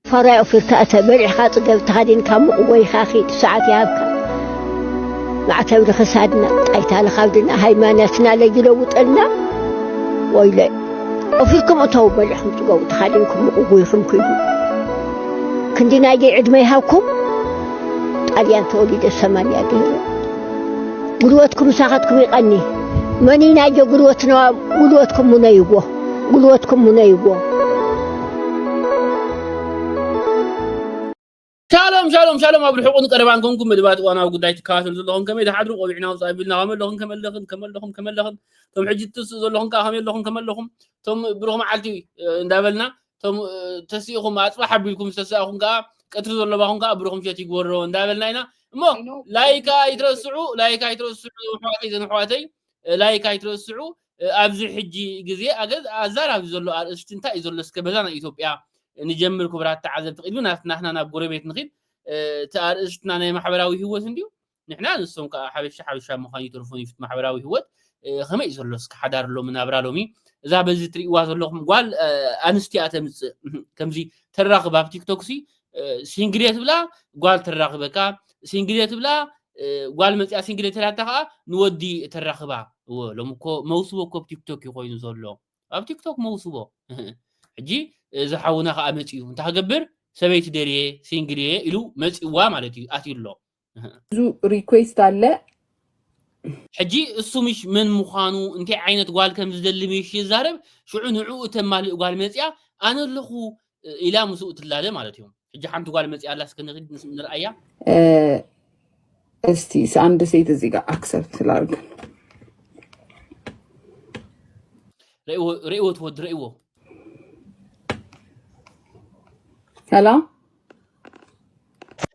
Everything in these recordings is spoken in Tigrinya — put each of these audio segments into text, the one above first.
ፈራይ ኦፊርካ እተ በሊዕካ ጽገብ ተኸዲንካ ሙቕ ወይኻ ኺድ ሰዓት ይሃብካ ማዕተብ ንኽሳድና ጣይታ ንኻብድና ሃይማኖትና ለይለውጠልና ወይለ ኦፊርኩም እተው በሊዕኩም ጽገቡ ተኻዲንኩም ሙቕ ጉይኹም ክይዱ ክንዲ ናይ ደይ ዕድመ ይሃብኩም ጣልያን ተወሊደ ሰማንያ ገይረ ጉልበትኩም ሳኻትኩም ይቐኒ መኒ ናይጆ ጉልበትና ጉልበትኩም ሙነይዎ ጉልበትኩም ሙነይዎ ሻሎም ሻሎም ሻሎም ኣብ ርሑቕን ቀረባን ኮንኩም መደባት እዋናዊ ጉዳይ ትከታተሉ ዘለኹም ከመይ ዝሓድሩ ቆቢዕና ውፃእ ቢልና ከመይ ኣለኹም ከመይ ኣለኽን ከመይ ኣለኹም ከመይ ኣለኽን እቶም ሕጂ ትትስኡ ዘለኹም ከዓ ከመይ ኣለኹም ከመይ ኣለኹም እቶም ብሩኽ መዓልቲ እንዳበልና እቶም ተሲእኹም ኣፅባሕ ኣቢልኩም ዝተሰኣኹም ከዓ ቀትሪ ዘለባኹም ከዓ ብሩኽ ምሸት ይግበሮ እንዳበልና ኢና እሞ ላይክ ኣይትረስዑ ላይክ ኣይትረስዑ ኣሕዋተይ ዘን ኣሕዋተይ ላይክ ኣይትረስዑ ኣብዚ ሕጂ ግዜ ኣገዝ ኣዛራቢ ዘሎ ኣርእስቲ እንታይ እዩ ዘሎ እስከ በዛ ናይ ኢትዮጵያ ንጀምር ክቡራት ተዓዘብቲ ቅድሚ ናት- ናትና ናብ ጎረቤት ንኺድ እ፣ እቲ ኣርእስትና ናይ ማሕበራዊ ህይወት እንድዩ ንሕና ንሶም ከዓ ሓበሻ ሓበሻ ምዃን ይተርፎን ይፍት ማሕበራዊ ህይወት እ፣ ከመይ እዩ ዘሎ እስከ ሓዳር ሎሚ ናብራ ሎሚ እዛ በዚ ትርእይዋ ዘለኹም ጓል እ፣ ኣንስቲ እያ ተምፅእ ከምዚ ተራኽብ ኣብ ቲክቶክ ሲ ሲንግሌ ትብላ ጓል ተራኽበካ ሲንግሌ ትብላ ጓል መፅያ ሲንግሌ ተላታ ከዓ ንወዲ ተራኽባ እወ ሎም እኮ መውስቦ እኮ ኣብ ቲክቶክ እዩ ኮይኑ ዘሎ ኣብ ቲክቶክ መውስቦ ሕጂ እዚ ሓውና ከዓ መፅኡ እንታይ ክገብር ሰበይቲ ደልየ ሲንግል እየ ኢሉ መፅዋ ማለት እዩ ኣትዩ ኣሎ ብዙ ሪኩዌስት ኣለ ሕጂ እሱ ምሽ መን ምዃኑ እንታይ ዓይነት ጓል ከም ዝደሊ ምሽ ይዛረብ ሽዑ ንዕኡ እተማልእ ጓል መፅያ ኣነ ኣለኹ እ፣ ኢላ ምስኡ ትላለ ማለት እዩ ሕጂ ሓንቲ ጓል መፅያ ኣላ እስከ ንኺድ ንስ- ንርኣያ እ፣ እስቲ ስ- አንድ ሴት እዚህ ጋር አክሰፕት ስላርግ ርእይዎ ርእይዎ ትወድ ርእይዎ ሰላም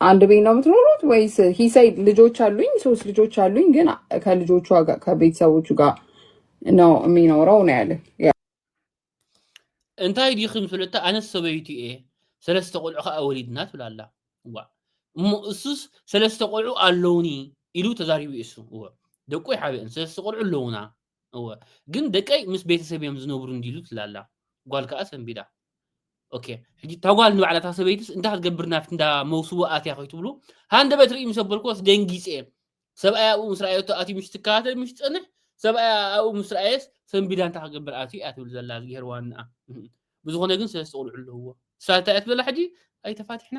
አንድ ቤት ነው የምትኖሩት ወይስ? ሂሳይ ልጆች አሉኝ፣ ሶስት ልጆች አሉኝ። ግን ከልጆቹ ጋር ከቤተሰቦቹ ጋር ነው የሚኖረው ነው ያለ። እንታይ ዲኽም ፍልጥታ ኣነስ ሰበይቲ እየ ሰለስተ ቆልዑ ከዓ ወሊድና ትብል ኣላ እዋ እሞ እሱስ ሰለስተ ቆልዑ ኣለውኒ ኢሉ ተዛሪቡ እሱ እወ ደቁ ይሓብአን ሰለስተ ቆልዑ ኣለውና እወ ግን ደቀይ ምስ ቤተሰብ እዮም ዝነብሩ እንዲሉ ትላላ ጓል ከዓ ሰንቢዳ ኦኬ ሕጂ እታ ጓል ንባዕላ እታ ሰበይትስ እንታይ ክትገብር ናብቲ እንዳ መውስቦ ኣትያ ከይትብሉ ሃንደበት ርኢ ምስ ኣበልክዎስ ደንጊፀ ሰብኣይ ኣብኡ ምስ ረኣየቶ ኣትዩ ምሽ ትከታተል ምሽ ትፀንሕ ሰብኣይ ኣብኡ ምስ ረኣየስ ሰንቢዳ እንታይ ክገብር ኣትዩ እያ ትብል ዘላ ዝገሄር ዋንኣ ብዝኾነ ግን ሰለስተ ቁልዑ ኣለውዎ ንሳ እንታይ እያ ትብለላ ሕጂ ኣይተፋትሕና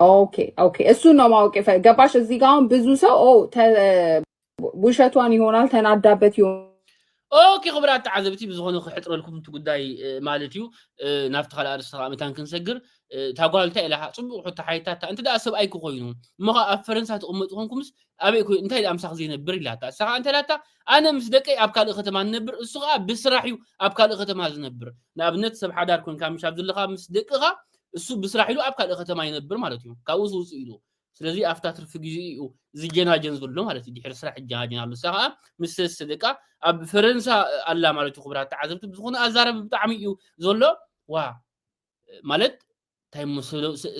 ኦኬ ኦኬ፣ እሱን ነው ማወቅ የፈ- ገባሽ። እዚህ ጋር አሁን ብዙ ሰው ኦ ተ- ውሸቷን ይሆናል ተናዳበት ይሆናል ኦኬ ክቡራት ተዓዘብቲ ብዝኾነ ክሕፅረልኩም እቲ ጉዳይ እ፣ ማለት እዩ እ፣ ናብቲ ካልእ ኣርእስቲ ከዓ መታን ክንሰግር እ፣ እታ ጓል እንታይ ኢላ ከዓ ፅቡቅ ሕቶ ሓይታታ እንተ ደኣ ሰብኣይኪ ኮይኑ እሞ ከዓ ኣብ ፈረንሳ ትቕመጡ ኮንኩምስ ኣበይ ኮይ እንታይ ደኣ ምሳኽ ዘይነብር ኢላታ እሳ ከዓ እንታይ ኢላታ ኣነ ምስ ደቀይ ኣብ ካልእ ከተማ ንነብር እሱ ከዓ ብስራሕ እዩ ኣብ ካልእ ከተማ ዝነብር ንኣብነት ሰብ ሓዳር ኮንካ ምሽ ኣብ ዘለኻ ምስ ደቅኻ እሱ ብስራሕ ኢሉ ኣብ ካልእ ከተማ ይነብር ማለት እዩ ካብኡ ዝውፅእ ኢሉ ስለዚ ኣብታ ትርፊ ግዜኡ እዩ ዝጀናጀን ዘሎ ማለት እዩ ድሕሪ ስራሕ ይጀናጀን ኣሎ እሳ ከዓ ምስ ሰለስተ ደቃ ኣብ ፈረንሳ ኣላ ማለት እዩ ክቡራት ተዓዘብቲ ብዝኾነ ኣዛረብ ብጣዕሚ እዩ ዘሎ ዋ ማለት እንታይ እሞ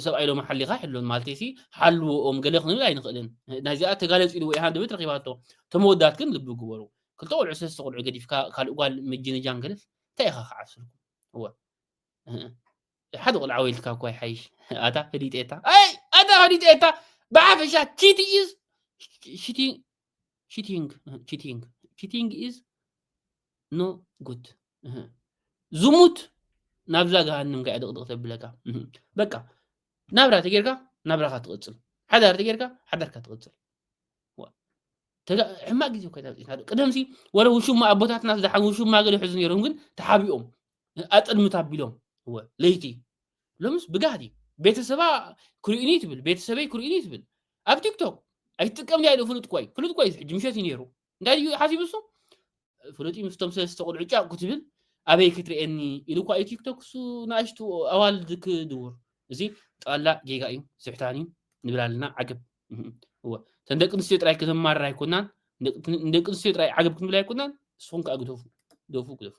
ሰብኣይ ሎሚ ሓሊኻ ሕሎን ማለት ሲ ሓልዎኦም ገለ ክንብል ኣይንኽእልን ናይዚኣ ተጋለፂ ኢልዎ ኢሃን ድብት ረኪባቶ ተመወዳት ግን ልቢ ግበሩ ክልተ ቆልዑ ሰለስተ ቆልዑ ገዲፍካ ካልእ ጓል ምጅንጃን ገለስ እንታይ ኢኻ ክዓስልኩ እወ ሓደ ቆልዓ ወይልካ እኳ ይሓይሽ ኣታ ህዲጤታ ኣይ ኣታ ህዲጤታ ብሓፈሻ ቺቲ ኢዝ ቺቲንግ ቺቲንግ ቺቲንግ ቺቲንግ ኢዝ ኖ ጉድ ዝሙት ናብዛ ገሃንም ከ ድቕድቕ ተብለካ በቃ ናብራ ተጌርካ ናብራኻ ትቕፅል ሓዳር ተጌርካ ሓዳርካ ትቕፅል ሕማቅ ግዜ ኮይና ቅደምሲ ወረ ውሽማ ኣቦታትና ዝሓ ውሽማ ገለ ይሕዙ ነይሮም ግን ተሓቢኦም ኣጠልምት ኣቢሎም እወ ለይቲ ሎምስ ብጋህዲ እዩ ቤተሰባ ክርእዩኒ ትብል ቤተሰበይ ክርእዩኒ ትብል ኣብ ቲክቶክ ኣይትጥቀም ድያ ኢሉ ፍሉጥ ቆይ ፍሉጥ ቆይ ሕጂ ምሸት እዩ ነይሩ እንታይ ድዩ ሓሲቡ እሱ ፍሉጥ እዩ ምስቶም ሰለስተ ቆልዑ ጫቁ ትብል ኣበይ ክትርእየኒ ኢሉ እኳ እዩ ቲክቶክ እሱ ንኣሽቱ ኣዋልድ ክድውር እዚ ጠቕላላ ጌጋ እዩ ስሕታን እዩ ንብል ኣለና ዓገብ እህም። እወ እተን ደቂ ኣንስትዮ ጥራይ ከተማርር ኣይኮናን ንደቂ ኣንስትዮ ጥራይ ዓገብ ክንብል ኣይኮናን ንስኹም ከዓ ግደፉ ግደፉ ግደፉ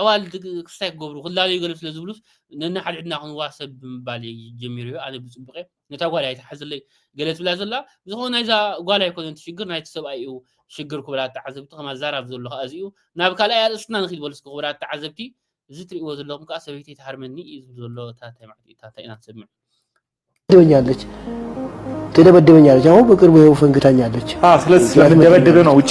ኣዋልድ ክስታይ ክገብሩ ክላለዩ ገለ ስለ ዝብሉስ ነንሓድሕድና ክንዋህ ሰብ ብምባል እየ ጀሚሩ እዩ ኣነ ብፅቡቅ እየ ነታ ጓል እያ ትሓዝለይ ገለ ትብላ ዘላ ብዝኾነ ናይዛ ጓል ኣይኮነን እቲ ሽግር ናይቲ ሰብኣይ እዩ ሽግር ክቡራት ተዓዘብቲ ከማ ዛራብ ዘሎ ከዓ እዚ እዩ ናብ ካልኣይ ኣርእስትና ንኪድ በሉ እስኪ ክቡራት ተዓዘብቲ እዚ ትርእይዎ ዘለኹም ከዓ ሰበይተይ ትሃርመኒ እዩ ዝብል ዘሎ ታታይ ማለት እዩ ታታይ ኢና ንሰምዕ ትደበኛለች ትደበደበኛለች አሁን በቅርቡ ይኸው ፈንግታኛለች ስለዚህ ስለምደበደበ ነው ውጭ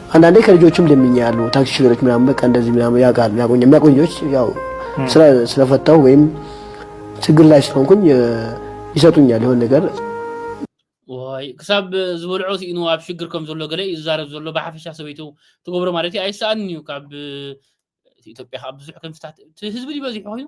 አንዳንዴ ከልጆችም ለምኛሉ ታክሲ ሹፌሮች ምናምን በቃ እንደዚህ ምናምን ያውቃሉ ያቆኛል የሚያቆኝ ልጆች ያው ስራ ስለፈታው ወይም ችግር ላይ ስለሆንኩኝ እ፣ ይሰጡኛል የሆነ ነገር ወይ ክሳብ ዝበልዖ ስኢኑ ኣብ ሽግር ከም ዘሎ ገለ እዩ ዝዛረብ ዘሎ ብሓፈሻ ሰበይቱ ትገብሮ ማለት እዩ ኣይሰኣንን እዩ ካብ እቲ ኢትዮጵያ ካብ ብዙሕ ክንፍታት እቲ ህዝቢ ድዩ በዚሑ ኮይኑ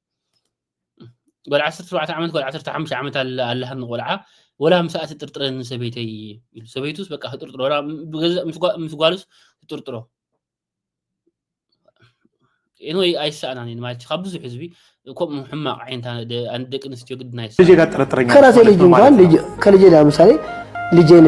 ጓል ዓሰርተ ሸውዓተ ዓመት ጓል ዓሰርተ ሓሙሽተ ዓመት ኣለ- ኣለሃኒ ቆልዓ ወላ ምስኣ ትጥርጥረኒ ሰበይተይ ኢሉ ሰበይቱስ በቃ ትጥርጥሮ ወላ ብገዛእ- ምስ ጓ- ምስ ጓሉስ ትጥርጥሮ ኤንወይ ኣይሰኣናን እዩ ማለት እዩ። ካብ ብዙሕ ህዝቢ ከምኡ ሕማቕ ዓይነት ኣነ- ደ- ኣነ ደቂ ኣንስትዮ ግድና ልጄ ኣይሰኣናን ጋር ጥርጥረኛ ከራሴ ማለት ልጅ ነው እንኳን ማለት ነው። ልጅ- ከልጄ ለምሳሌ ልጄን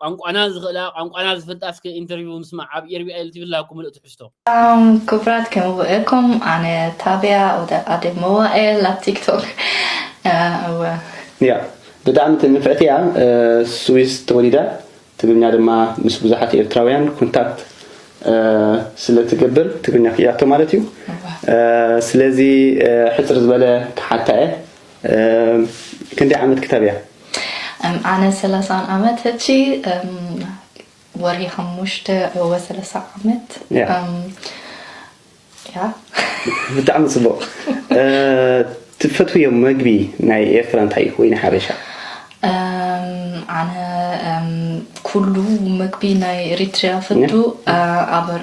ቋንቋና ዝኽእላ ቋንቋና ዝፈልጣ እስከ ኢንተርቪው ምስማዕ ኣብ ኤርቢያ ኢሉ ትብል ላኩ ምሉእ ትሕዝቶ። ሰላም ክብራት ከመይ ውዒልኩም ኣነ ታብያ ወደ ኣደ መዋእል ኣብ ቲክቶክ እወ እያ ብጣዕሚ ትንፍዕቲ እያ ስዊስ ተወሊዳ ትግርኛ ድማ ምስ ብዙሓት ኤርትራውያን ኮንታክት ስለ ትገብር ትግርኛ ክኢላቶ ማለት እዩ ስለዚ ሕፅር ዝበለ ክሓታ እየ ክንደይ ዓመት ክታብ እያ ኣነ ሰላሳን ዓመት ሕጂ ወርሒ ሓሙሽተ እወ ሰላሳ ዓመት ያ ብጣዕሚ ጽቡቅ ትፈትውዮ መግቢ ናይ ኤርትራ እንታይ እዩ ወይ ንሓበሻ ኣነ ኩሉ መግቢ ናይ ኤሪትሪያ ፈቱ ኣበር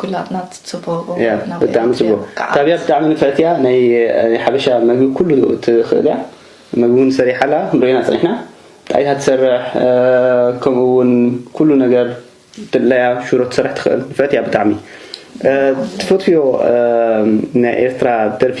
ኩላትና ጽቡቅ እያ ብጣዕሚ ጽቡቅ ታብያ ብጣዕሚ ንፍዕቲ እያ ናይ ሓበሻ መግቢ ኩሉ ትኽእል እያ መግቢ እውን ሰሪሓ ኣላ ክንሪኦ ኢና ጸኒሕና ጣይ እያ ትሰርሕ ከምኡ እውን ኩሉ ነገር ድላያ ሽሮ ትሰርሕ ትኽእል ንፍዕቲ እያ ብጣዕሚ ትፈትፍዮ ናይ ኤርትራ ደርፊ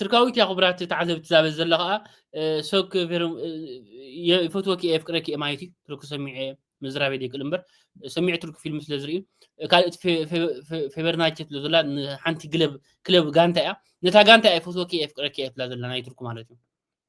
ትርካዊት እያ ክቡራት ተዓዘብቲ ዛበ ዘለ ከዓ ሰክ ይፈትወኪ እየ ፍቅረኪ እየ ማለት እዩ ትርኩ ሰሚዐ ምዝራቤ ደይክእል እምበር ሰሚዐ ትርኩ ፊልም ስለ ዝርኢ ካልእቲ ፌቨርናቸ ስለ ዘላ ንሓንቲ ግለብ ክለብ ጋንታ እያ ነታ ጋንታ እየ ፈትወኪ እየ ፍቅረኪ እየ ትብላ ዘላ ናይ ትርኩ ማለት እዩ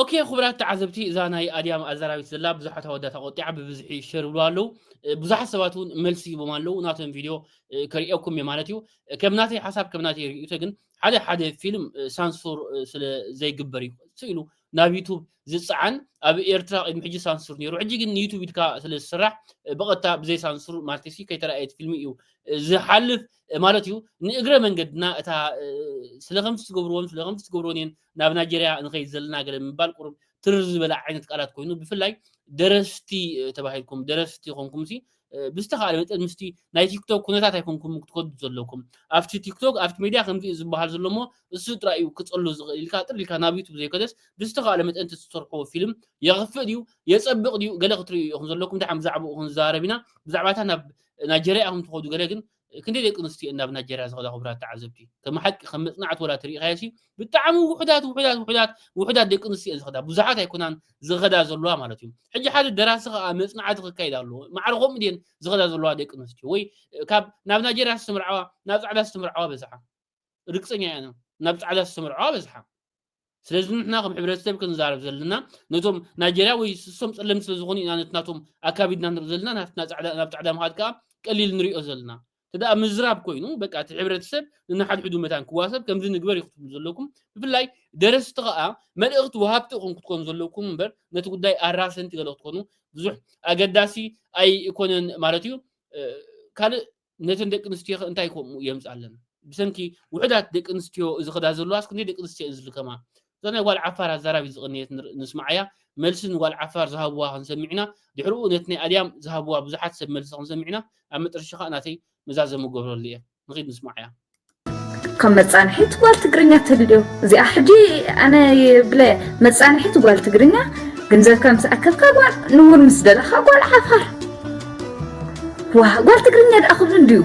ኦኬ ኩቡራት ተዓዘብቲ እዛ ናይ ኣድያም ኣዛራቢት ዘላ ብዙሓት ኣወዳት ኣቆጢዓ ብብዝሒ ሸር ይብልዋ ኣለዉ ብዙሓት ሰባት እውን መልሲ ሂቦም ኣለዉ ናቶም ቪድዮ ከርእየኩም እየ ማለት እዩ ከም ናተይ ሓሳብ ከም ናተይ ርእይቶ ግን ሓደ ሓደ ፊልም ሳንሱር ስለ ዘይግበር እዩ ስኢሉ ናብ ዩቱብ ዝፀዓን ኣብ ኤርትራ ቅድሚ ሕጂ ሳንሱር ነይሩ ሕጂ ግን ንዩቱብ ኢልካ ስለ ዝስራሕ ብቐጥታ ብዘይ ሳንሱር ማለት ሲ ከይተረኣየት ፊልሚ እዩ ዝሓልፍ ማለት እዩ ንእግረ መንገድና እታ ስለ ከምቲ ትገብርዎን ስለ ከምቲ ትገብርዎን እየን ናብ ናይጀርያ ንኸይድ ዘለና ገለ ምባል ቁሩብ ትርር ዝበለ ዓይነት ቃላት ኮይኑ ብፍላይ ደረስቲ ተባሂልኩም ደረስቲ ኮንኩምሲ ብዝተኻእለ መጠን ምስቲ ናይ ቲክቶክ ኩነታት ኣይኮንኩም ክትከዱ ዘለኩም ኣብቲ ቲክቶክ ኣብቲ ሜድያ ከምዚ እዩ ዝበሃል ዘሎ እሞ እሱ ጥራይ እዩ ክጸሉ ዝኽእል ኢልካ ጥር ኢልካ ናብ ዩቱብ ዘይኮነስ ብዝተኻእለ መጠን ትሰርሕዎ ፊልም የኽፍእ ድዩ የጸብቕ ድዩ ገለ ክትርእዩ ኢኹም ዘለኩም ድሓን ብዛዕባኡ ክንዛረብ ኢና ብዛዕባታ ናብ ናይጀርያ ኢኹም ትኸዱ ገለ ግን ክንደይ ደቂ ኣንስትዮ'የን ናብ ናይጀርያ ዝኸዳ ክቡራት ተዓዘብቲ? ከም ሓቂ ከም መጽናዕቲ ወላ ተሪእኻዮሲ ብጣዕሚ ውሑዳት ውሑዳት ውሑዳት ውሑዳት ደቂ ኣንስትዮ'የን ዝኸዳ ብዙሓት ኣይኮናን ዝኸዳ ዘለዋ ማለት እዩ። ሕጂ ሓደ ደራሲ ከኣ መጽናዕቲ ክካየድ ኣለዎ ማዕረ ከምኡ ድየን ዝኸዳ ዘለዋ ደቂ ኣንስትዮ ወይ ካብ ናብ ናይጀርያ ዝተመርዓዋ ናብ ጻዕዳ ዝተመርዓዋ በዝሓ ርግጸኛ እያ ኢና ናብ ጻዕዳ ዝተመርዖ በዝሓ ስለዚ ንሕና ከም ሕብረተሰብ ክንዛረብ ዘለና ነቶም ናይጀርያ ወይ እሶም ጸለምቲ ስለ ዝኾኑ ኢና ነቲ ናቶም ኣካቢድና ንርኢ ዘለና ናትና ጻዕዳ ናብ ጻዕዳ ምኻድ ከኣ ቀሊል ንሪኦ ዘለና ተደኣ ምዝራብ ኮይኑ በቃ እቲ ሕብረተሰብ ንናሓድሕዱ መታን ክዋሰብ ከምዚ ንግበር ይክትብሉ ዘለኩም ብፍላይ ደረስቲ ከኣ መልእኽቲ ወሃብቲ ኢኹም ክትኮኑ ዘለኩም እምበር ነቲ ጉዳይ ኣራሰንቲ ገለ ክትኮኑ ብዙሕ ኣገዳሲ ኣይኮነን ማለት እዩ ካልእ ነተን ደቂ ኣንስትዮኸ እንታይ ከምኡ የምፅኣለን ብሰንኪ ውሕዳት ደቂ ኣንስትዮ እዚ ክዳ ዘለዋስ ክንደይ ደቂ ኣንስትዮ እየን ዝልከማ እዛ ናይ ጓል ዓፋር ኣዛራቢት ዝቕነየት ንስምዓያ መልሲ ንጓል ዓፋር ዝሃብዋ ክንሰምዕ ኢና ድሕሪኡ ነቲ ናይ ኣድያም ዝሃብዋ ብዙሓት ሰብ መልሲ ክንሰምዕ ኢና ኣብ መጠረሻ ከዓ ናተይ መዛዘሚ ገብረሉ እየ ንኺድ ንስምዓያ ከም መጻንሒት ጓል ትግርኛ ተልልዮ እዚኣ ሕጂ ኣነ ብለ መጻንሒት ጓል ትግርኛ ግንዘብካ ምስ ኣከብካ ጓል ንውን ምስ ደለኻ ጓል ዓፋር ዋ ጓል ትግርኛ ደኣ ክብሉ እንድዩ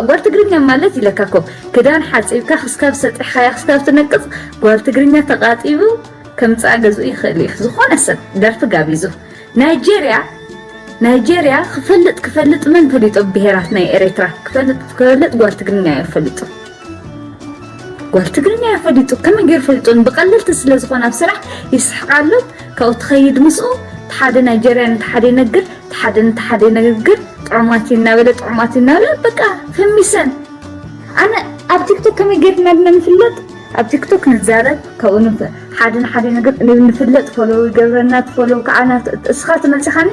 ጓል ትግርኛ ማለት ኢለካ ኮ ክዳን ሓፂብካ ክስካብ ሰጢሕኻያ ክስካብ ትነቅፅ ጓል ትግርኛ ተቃጢቡ ከምፃእ ገዝኡ ይኽእል እዩ ዝኾነ ሰብ ደርፊ ጋቢዙ ናይጀርያ ናይጀርያ ክፈልጥ ክፈልጥ መን ፈሊጦ ብሄራት ናይ ኤሬትራ ክፈልጥ ክፈልጥ ጓል ትግርኛ እዮ ፈሊጡ ጓል ትግርኛ እዮ ፈሊጡ ከመይ ገይሩ ፈሊጡን ብቀለልቲ ስለ ዝኾነ ኣብ ስራሕ ይስሕቃሉ ካብኡ ትኸይድ ምስኡ ተሓደ ናይጀርያ ንተሓደ ይነግር ተሓደ ንተሓደ ይነግር ጥዑማት እናበለ ጥዑማት እናበለ በቃ ፈሚሰን ኣነ ኣብ ቲክቶክ ከመይ ገይርና ድና ንፍለጥ ኣብ ቲክቶክ ንዛረብ ካብኡ ንውጽእ ሓደ ንሓደ ነገር ንፍለጥ ፎሎው ይገብረና ትፎሎው ከዓ ናቱ እስኻ ትመልስኻኒ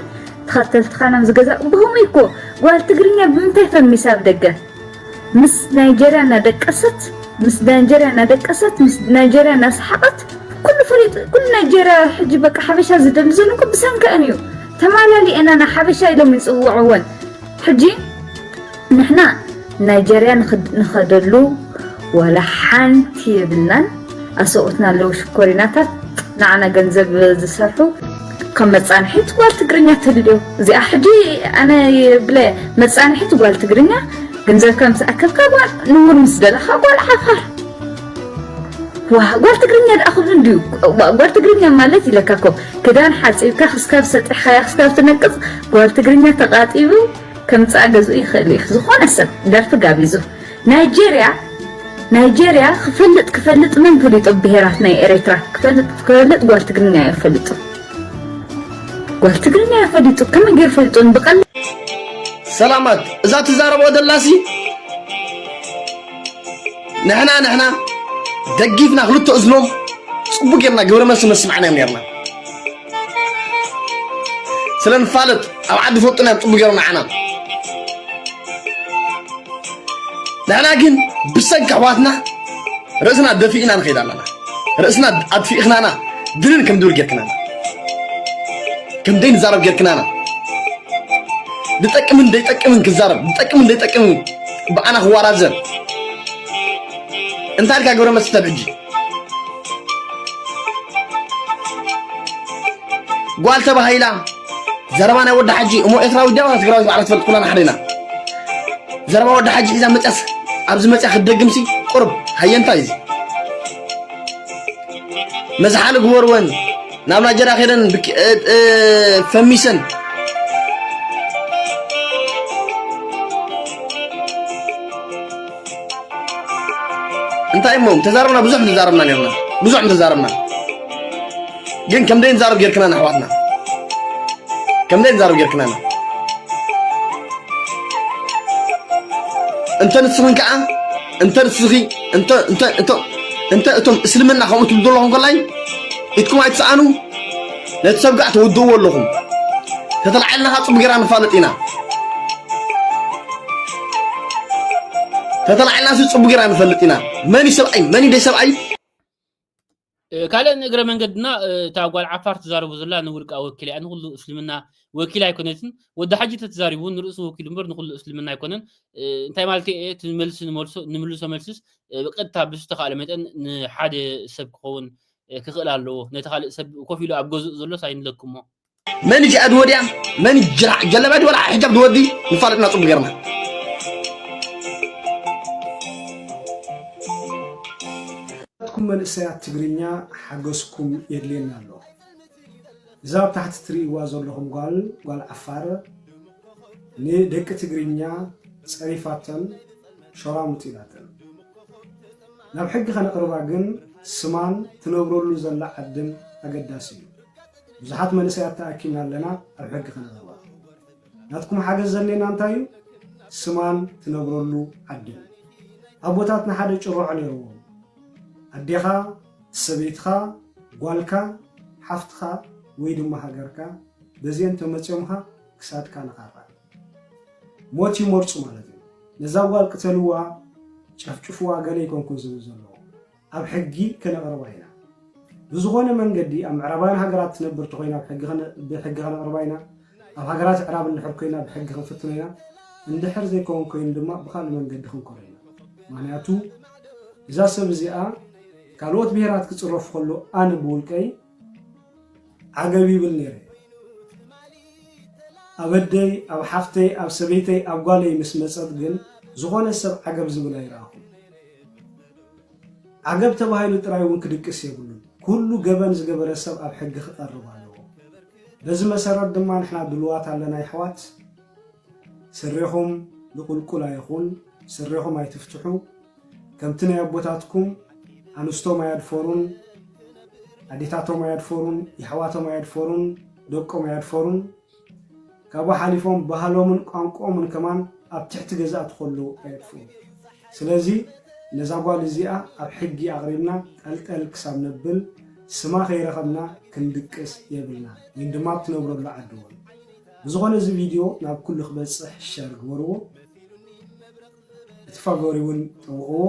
ተኸተልትኻ ናብ ዝገዛ ብኸምኡ እኮ ጓል ትግርኛ ብምንታይ ፈሚሳ ኣብ ደገ ምስ ናይጀርያ እናደቀሰት ምስ ናይጀርያ እናደቀሰት ምስ ናይጀርያ እናሰሓቐት ኩሉ ፈሊጡ ኩሉ ናይጀርያ ሕጂ በቃ ሓበሻ ዝደሊ ዘሎ እኮ ብሰንከአን እዩ ተማላሊአናና ሓበሻ ኢሎም ይፅውዕወን ሕጂ ንሕና ናይጀርያ ንኸደሉ ዋላ ሓንቲ የብልናን ኣሰብኡትና ኣለው ሽኮሪናታት ንዓና ገንዘብ ዝሰርሑ ከም መጻንሒት ጓል ትግርኛ ተልልዮ እዚኣ ሕጂ ኣነ ብለ መጻንሒት ጓል ትግርኛ ገንዘብካ ምስ ኣከብካ ጓል ንቡር ምስ ደለኻ ጓል ዓፋር ጓል ትግርኛ ደኣ ክብሉ እንድዩ ጓል ትግርኛ ማለት ኢለካ እኮ ክዳን ሓፂብካ ክስካብ ሰጢሕካያ ክስካብ ትነቅፅ ጓል ትግርኛ ተቃጢቡ ከምጽኣ ገዝኡ ይኽእል እዩ ዝኾነ ሰብ ደርፊ ጋቢዙ ናይጀርያ ናይጀርያ ክፈልጥ ክፈልጥ መን ፈሊጦ ብሄራት ናይ ኤሬትራ ክፈልጥ ክፈልጥ ጓል ትግርኛ እዩ ፈሊጡ ጓል ትግርኛ እዩ ፈሊጡ ከመይ ገይሩ ፈልጡን ብቀል ሰላማት እዛ ትዛረቦ ዘላሲ ንሕና ንሕና ደጊፍና ክልተ እዝኖም ፅቡቅ ጌርና ግብረ መልሲ መስማዕና እዮም ኔርና ስለ ንፋለጥ ኣብ ዓዲ ፈጡና እዮም ፅቡ ገይሮም ንዓና ንሕና ግን ብሰንኪ ኣሕዋትና ርእስና ደፊእና ንኸይድ ኣለና ርእስና ኣድፊእኽናና ድንን ከም ድብል ጌርክናና ከም ዘይንዛረብ ጌርክናና ዝጠቅምን ዘይጠቅምን ክዛረብ ዝጠቅምን ዘይጠቅምን ብኣና ክዋራዘር እንታይ ኢልካ ግብረ መስተ ሕጂ ጓል ተባሂላ ዘረባ ናይ ወዲ ሓጂ እሞ ኤርትራዊ ደባ ትግራዊ ባዕላ ትፈልጥ ኩላና ሓደ ኢና ዘረባ ወዲ ሓጂ ሒዛ መፅያስ ኣብዚ መፅያ ክትደግምሲ ቁርብ ሃየንታይ እዚ መዝሓሊ ግበርወን ናብ ናይጀርያ ከይደን ፈሚሰን እንታይ እሞ ተዛረብና ብዙሕ ምተዛረብና ነርና ብዙሕ ምተዛረብና ግን ከምደይ ንዛረብ ጌርክናና ኣሕዋትና ከምደይ ንዛረብ ጌርክናና እንተ ንስኽን ከዓ እንተ ንስኺ እንተ እንተ እንተ እቶም እስልምና ከምኡ ትብሉ ዘለኹም ከላይ ኢትኩም ኣይትስኣኑ ነቲ ሰብጋዕ ትውድእዎ ኣለኹም ተተልዓልና ካ ጽቡቅ ጌርና ንፋለጥ ኢና ተተልዓልና ሲ ጽቡቅ ጌርና ንፈልጥ ኢና መን እዩ ሰብኣይ መን እዩ ደይሰብኣይ ካልእ ንእግረ መንገድና እታ ጓል ዓፋር ትዛረቡ ዘላ ንውልቃ ወኪል እያ ንኩሉ እስልምና ወኪል ኣይኮነትን ወዲ ሓጂ ተትዛሪቡ እውን ንርእሱ ወኪሉ እምበር ንኩሉ እስልምና ኣይኮነን እንታይ ማለት እየ እቲ መልሲ ንመልሶ- ንምልሶ መልስስ እ፣ ብቀጥታ ብዝተኻእለ መጠን ንሓደ ሰብ ክኸውን ክኽእል ኣለዎ ነቲ ካልእ ሰብ ኮፍ ኢሉ ኣብ ገዝኡ ዘሎስ ኣይንለክሞ መን እዩ ሸኣድ ወዲያ መን እዩ ጅራዕ ጀለባ ድወላ ሕጃብ ድወዲ ንፋለጥና ፅቡቅ ገርና ኩም መንእሰያት ትግርኛ ሓገዝኩም የድልየና ኣሎ እዛ ኣብ ታሕቲ ትርእይዋ ዘለኹም ጓል ጓል ዓፋር ንደቂ ትግርኛ ጸሪፋተን ሸራሙጥ ኢላተን ናብ ሕጊ ከነቕርባ ግን ስማን ትነብረሉ ዘላ ዓድን ኣገዳሲ እዩ ብዙሓት መንእሰያት ተኣኪብና ኣለና ኣብ ሕጊ ከነቕርባ ናትኩም ሓገዝ ዘድልየና እንታይ እዩ? ስማን ትነብረሉ ዓድን። ኣቦታትና ሓደ ጭርዖ ነይርዎም። ኣዴኻ፣ ሰበይትኻ፣ ጓልካ፣ ሓፍትኻ ወይ ድማ ሃገርካ በዚኤን ተመጽዮምኻ ክሳድካ ንኻራ። ሞት ይመርጹ ማለት እዩ። ነዛ ጓል ቅተልዋ፣ ጨፍጭፍዋ ገለ ኣይኮንኩን ዝብል ዘለኹ። ኣብ ሕጊ ከነቕርባ ኢና ብዝኾነ መንገዲ ኣብ ምዕራባውያን ሃገራት ትነብር ተኾይና ብሕጊ ከነቕርባ ኢና ኣብ ሃገራት ኣዕራብ እንድሕር ኮይና ብሕጊ ክንፍትኖ ኢና እንድሕር ዘይከውን ኮይኑ ድማ ብካልእ መንገዲ ክንኮረ ኢና ምክንያቱ እዛ ሰብ እዚኣ ካልኦት ብሄራት ክፅረፉ ከሎ ኣነ ብውልቀይ ዓገብ ይብል ነይረ ኣብ ኣደይ ኣብ ሓፍተይ ኣብ ሰበይተይ ኣብ ጓለይ ምስ መጸት ግን ዝኾነ ሰብ ዓገብ ዝብል ኣይረኣኹን ዓገብ ተባሂሉ ጥራይ እውን ክድቅስ የብሉን ኩሉ ገበን ዝገበረ ሰብ ኣብ ሕጊ ክቐርብ ኣለዎ በዚ መሰረት ድማ ንሕና ድልዋት ኣለና ይሕዋት ስሬኹም ንቁልቁል ኣይኹን ስሬኹም ኣይትፍትሑ ከምቲ ናይ ኣቦታትኩም ኣንስቶም ኣያድፈሩን ኣዴታቶም ኣያድፈሩን የሕዋቶም ኣያድፈሩን ደቆም ኣያድፈሩን ካብኡ ሓሊፎም ባህሎምን ቋንቋኦምን ከማን ኣብ ትሕቲ ገዛእቲ ከለዉ ኣየጥፍኡን ስለዚ ነዛ ጓል እዚኣ ኣብ ሕጊ ኣቕሪብና ጠልጠል ክሳብ ነብል ስማ ከይረኸብና ክንድቅስ የብልና ወይን ድማ ኣብ ትነብረሉ ዓዲ እውን ብዝኾነ እዚ ቪድዮ ናብ ኩሉ ክበጽሕ ሸር ግበርዎ እቲ ፋቮሪ ውን ጠውቕዎ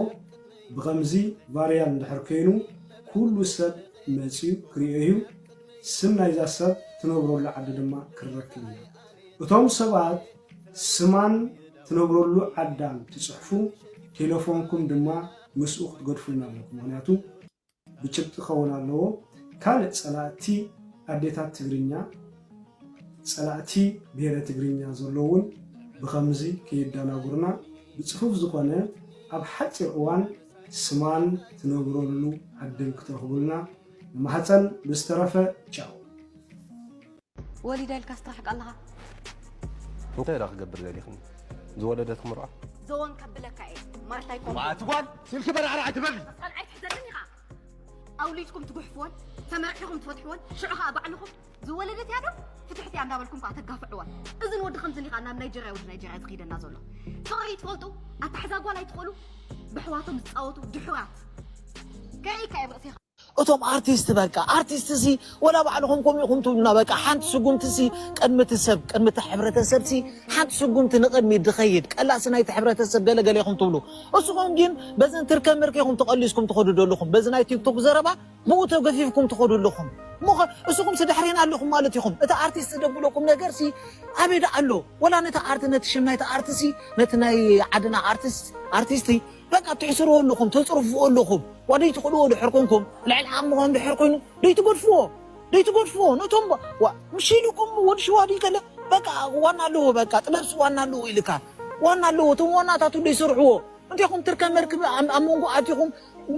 ብኸምዚ ቫርያል እንድሕር ከይኑ ኩሉ ሰብ መጽዩ ክሪኦ እዩ ስም ናይዛ ሰብ ትነብረሉ ዓዲ ድማ ክንረክብ ኢና እቶም ሰባት ስማን ትነብረሉ ዓዳን ትጽሕፉ ቴለፎንኩም ድማ ምስኡ ክትገድፉልና ኣለኩም ምክንያቱ ብጭብጢ ክኸውን ኣለዎ ካልእ ጸላእቲ ኣዴታት ትግርኛ ጸላእቲ ብሄረ ትግርኛ ዘሎ እውን ብኸምዚ ከየዳናጉርና ብጽፉፍ ዝኾነ ኣብ ሓጺር እዋን ስማን ትነብረሉ ዓድን ክትረኽቡልና ንማህጸን ብዝተረፈ ቻው። ወሊዳ ኢልካስ ትራሕቅ ኣለኻ። እንታይ ድኣ ክገብር ደሊኽኒ ዝወለደት ክምርዖ። ዞን ከብለካ እየ ማርታይ ኮምቦ። መዓት ጓል ስልኪ በራዕራዕ ኣይትበሊ። ቃል ኣይትሕዘለኒ ኸኣ ኣውሊድኩም ትጉሕፍወን ተመርዕኹም ትፈትሕወን ሽዑ ኸኣ ባዕልኹም ዝወለደት እያ ዶ ፍትሕቲ እያ እንዳበልኩም ከኣ ተጋፍዕዋ። እዚ ንወዲ ከምዚ ኒኻ ናብ ናይጀርያ ወዲ ናይጀርያ ዝኸይደና ዘሎ ፍቕሪ ይትፈልጡ ኣታሕዛ ጓል ኣይትኽእሉ ብሕዋቶም ዝፃወቱ ድሑራት ከርእይካ እየ ርእሲኻ እቶም ኣርቲስት በቃ ኣርቲስት ሲ ወላ ባዕልኹም ከምኡ ኢኹም ትብሉና በቃ ሓንቲ ስጉምቲ ሲ ቅድሚ እቲ ሰብ ቅድሚ እቲ ሕብረተሰብ ሲ ሓንቲ ስጉምቲ ንቅድሚት ድኸይድ ቀላሲ ናይቲ ሕብረተሰብ ገለ ገለ ኢኹም ትብሉ እስኹም ግን በዘን ትርከ ምርከ ኢኹም ተቀሊስኩም ትኸዱ ዘለኹም በዚ ናይ ቲክቶክ ዘረባ ብኡ ተገፊፍኩም ትኸዱ ኣለኹም እሞኸ እስኹም ሲ ድሕሬና ኣለኹም ማለት ኢኹም እቲ ኣርቲስት ዝደብለኩም ነገር ሲ ኣበይ ደኣ ኣሎ ወላ ነቲ ኣርቲ ነቲ ሽም ናይቲ ኣርቲ ሲ ነቲ ናይ ዓድና ኣርቲስት ኣርቲስት በቃ ትሕስርዎ ኣለኹም ተጽርፍዎ ኣለኹም ዋደይ ትኽእልዎ ድሕር ኮንኩም ልዕሊ ዓቕምኹም ድሕር ኮይኑ ደይ ትገድፍዎ ደይ ትገድፍዎ ነቶም ምሽ ኢልኩም ወዲ ሽዋድ ከለ በቃ ዋና ኣለዎ በቃ ጥበብሲ ዋና ኣለዎ ኢልካ ዋና ኣለዎ እቶም ዋናታቱ ደይ ሰርሕዎ እንቴኹም ትርከ መርክብ ኣብ መንጎ ኣቲኹም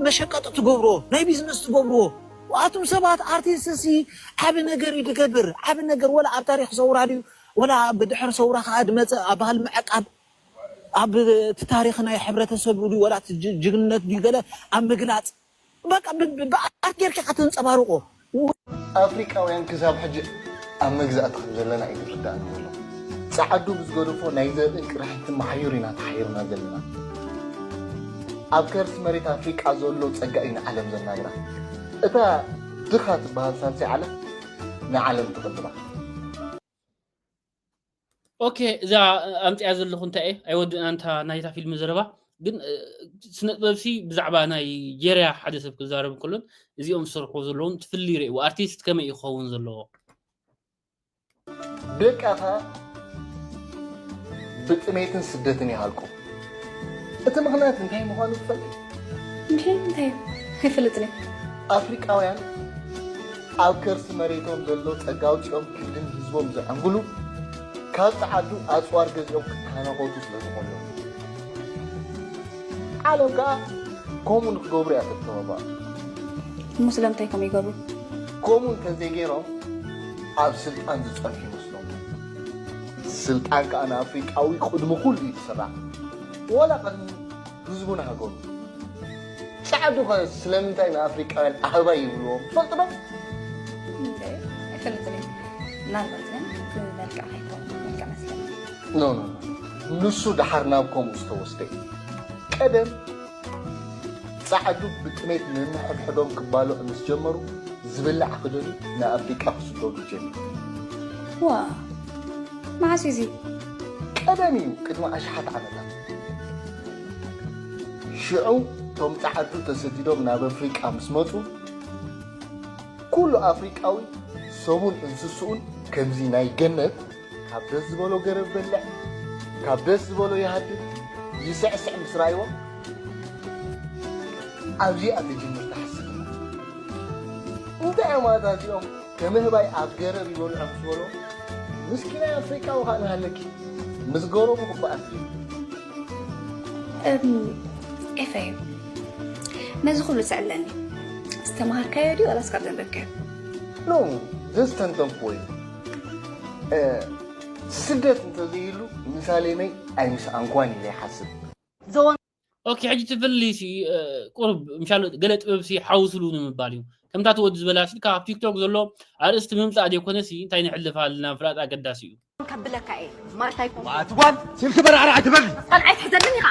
መሸቀጢ ትገብርዎ ናይ ቢዝነስ ትገብርዎ ኣቱም ሰባት ኣርቲስት ሲ ዓቢ ነገር እዩ ድገብር ዓቢ ነገር ወላ ኣብ ታሪኽ ሰውራ ድዩ ወላ ብድሕሪ ሰውራ ከኣ ድመጸ ኣብ ባህል ምዕቃብ ኣብ እቲ ታሪኽ ናይ ሕብረተሰብ ድዩ ዋላ እቲ ጅግንነት ድዩ ገለ ኣብ ምግላጽ በቃ ብኣርት ጌርካ ኢኻ ተንጸባርቖ። ኣፍሪቃውያን ክሳብ ሕጂ ኣብ መግዛእቲ ከም ዘለና እዩ ዝርድኣኒ ዘሎ። ጸዓዱ ብዝገደፎ ናይ ዘርእን ቅርሕንትን መሓዩር ኢና ተሓይርና ዘለና። ኣብ ከርሲ መሬት ኣፍሪቃ ዘሎ ጸጋ እዩ ንዓለም ዘናግራ። እታ ድኻ ትበሃል ሳልሳይ ዓለም ንዓለም ትቕልባ። ኦኬ እዛ ኣምፅያ ዘለኹ እንታይ እየ ኣይወድእና እንታ ናይታ ፊልም ዘረባ ግን ስነ ጥበብሲ ብዛዕባ ናይ ጀርያ ሓደ ሰብ ክዛረብ ከሎን እዚኦም ዝሰርሑ ዘለዎም ትፍሊ ይርእዎ ኣርቲስት ከመይ እዩ ክኸውን ዘለዎ ደቃኻ ብጥሜትን ስደትን ይሃልቁ እቲ ምኽንያት እንታይ ምዃኑ ትፈልጥ? ምኽንያት እንታይ እዩ? ኣይፈልጥን እየ። ኣፍሪቃውያን ኣብ ከርሲ መሬቶም ዘሎ ጸጋ ኣውጺኦም ክንድን ህዝቦም ዘዐንግሉ ካብ ጸዓዱ ኣጽዋር ገዚኦም ክተናኾቱ ስለ ዝኾኑ እዮም። ዓለም ከኣ ከምኡ ንክገብሩ እያ ተተባብዖም። እሞ ስለምንታይ ከምኡ ይገብሩ? ከምኡ እንተዘይገይሮም ኣብ ስልጣን ዝጸንሑ ይመስሎም። ስልጣን ከኣ ንኣፍሪቃዊ ቁድሚ ኩሉ እዩ ዝስራዕ ወላ ቅድሚ ህዝቡን ሃገሩን። ጸዓዱ ከ ስለምንታይ ንኣፍሪቃውያን ኣህባይ ይብልዎም ትፈልጢ ዶ? ኣይፈልጥን እየ ምናልባት ግን ብመልክዕ ከይኮነ መልክዕ መስለኒ። ኖኖኖ ንሱ ደሓር ናብ ከምኡ ዝተወስደ እዩ ቀደም ጻዕዱ ብጥሜት ነንሕድሕዶም ክባልዑ ምስ ጀመሩ ዝብላዕ ክደልዩ ንኣፍሪቃ ክስደዱ ጀሚሮም። ዋእ! መዓስ እዩ እዚ? ቀደም እዩ ቅድሚ ኣሽሓት ዓመታት። ሽዑ እቶም ጻዓዱ ተሰዲዶም ናብ ኣፍሪቃ ምስ መጹ ኩሉ ኣፍሪቃዊ ሰቡን እንስስኡን ከምዚ ናይ ገነት ካብ ደስ ዝበሎ ገረብ በልዕ ካብ ደስ ዝበሎ ይሃድም ይስዕስዕ ምስ ራእይዎ ኣብዚኣ ትጅምር ትሓስብ እንታይ እዮም ኣታ እዚኦም ከምህባይ ኣብ ገረብ ይበልዑ ምስ በሎ ምስኪናይ ኣፍሪቃዊ ከዓ ንሃለኪ ምስ ገረቡ ክበኣስ ኤፈይ ነዚ ኩሉ ትስዕለኒ ዝተምሃርካዮ ድዩ ዋላስ ካብ ዘንበብካዮ ኖ ዘስተንተንኩዎ እዩ ስደት እንተዘይሉ ምሳሌነይ ኣይምስኣንኳን ኢለ ይሓስብ ኦኬ ሕጂ እቲ ፍሊ ሲ ቁርብ ምሻሉ ገለ ጥበብ ሲ ሓውስሉ ንምባል እዩ ከምታ እቲ ወዲ ዝበላ ሲ ካብ ቲክቶክ ዘሎ ኣርእስቲ ምምፃእ ዘይኮነ ሲ እንታይ ንሕልፍ ኣለና ምፍላጥ ኣገዳሲ እዩ ከብለካ እየ ማርታ ይኮን ኣቲ ጓል ስልኪ በራዕራ ኣይትበሊ ጸንዓይ ትሕዘኒ ኢኻ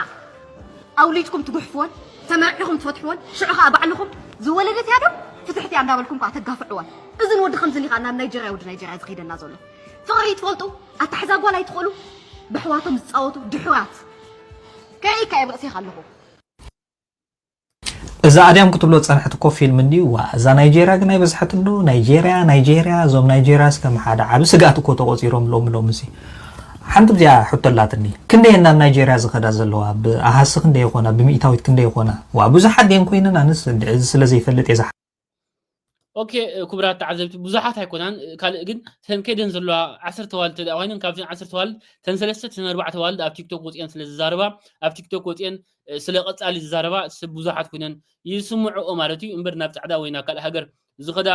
ኣውሊድኩም ትጉሕፍዎን ተመርዒኹም ትፈትሕዎን ሽዑ ከዓ ባዕልኹም ዝወለደት ያዶ ፍትሕት እያ እንዳበልኩም ከዓ ተጋፍዕዎን እዝን ወዲ ከምዝን ኢኻ ናብ ናይጀርያ ወዲ ናይጀርያ ዝኸይደላ ዘሎ ፍቕሪ ይትፈልጡ ኣታሕዛ ጓል ኣይትኽእሉ ብሕዋቶም ዝጻወቱ ድሑራት ከሪእካ እየ ብርእሴኻ ኣለኹ እዚ ኣድያም ክትብሎ ዝጸንሐት እኮ ፊልም እንድዩ ዋ እዛ ናይጀርያ ግን ኣይበዝሐትን ዶ ናይጀርያ ናይጀርያ እዞም ናይጀርያስ ከም ሓደ ዓቢ ስግኣት እኮ ተቖጺሮም ሎሚ ሎሚ እዚ ሓንቲ ብዚኣ ሕቶ ኣላትኒ ክንደየን ናብ ናይጀርያ ዝኸዳ ዘለዋ ብኣሃሲ ክንደይ ይኾና ብሚእታዊት ክንደይ ይኾና ዋ ብዙሓት ድየን ኮይነን ኣነስ እዚ ስለ ዘይፈልጥ እየ ኦኬ ክቡራት ተዓዘብቲ ብዙሓት ኣይኮናን ካልእ ግን ተን ከይደን ዘለዋ ዓሰርተ ዋልድ ተደኣ ኮይነን ካብዘን ዓሰርተ ዋልድ ተን ሰለስተ ተን ኣርባዕተ ዋልድ ኣብ ቲክቶክ ወፅአን ስለ ዝዛረባ ኣብ ቲክቶክ ወፅአን ስለ ቀፃሊ ዝዛረባ ሰብ ብዙሓት ኮይነን ይስምዕኦ ማለት እዩ እምበር ናብ ፃዕዳ ወይ ናብ ካልእ ሃገር ዝኸዳ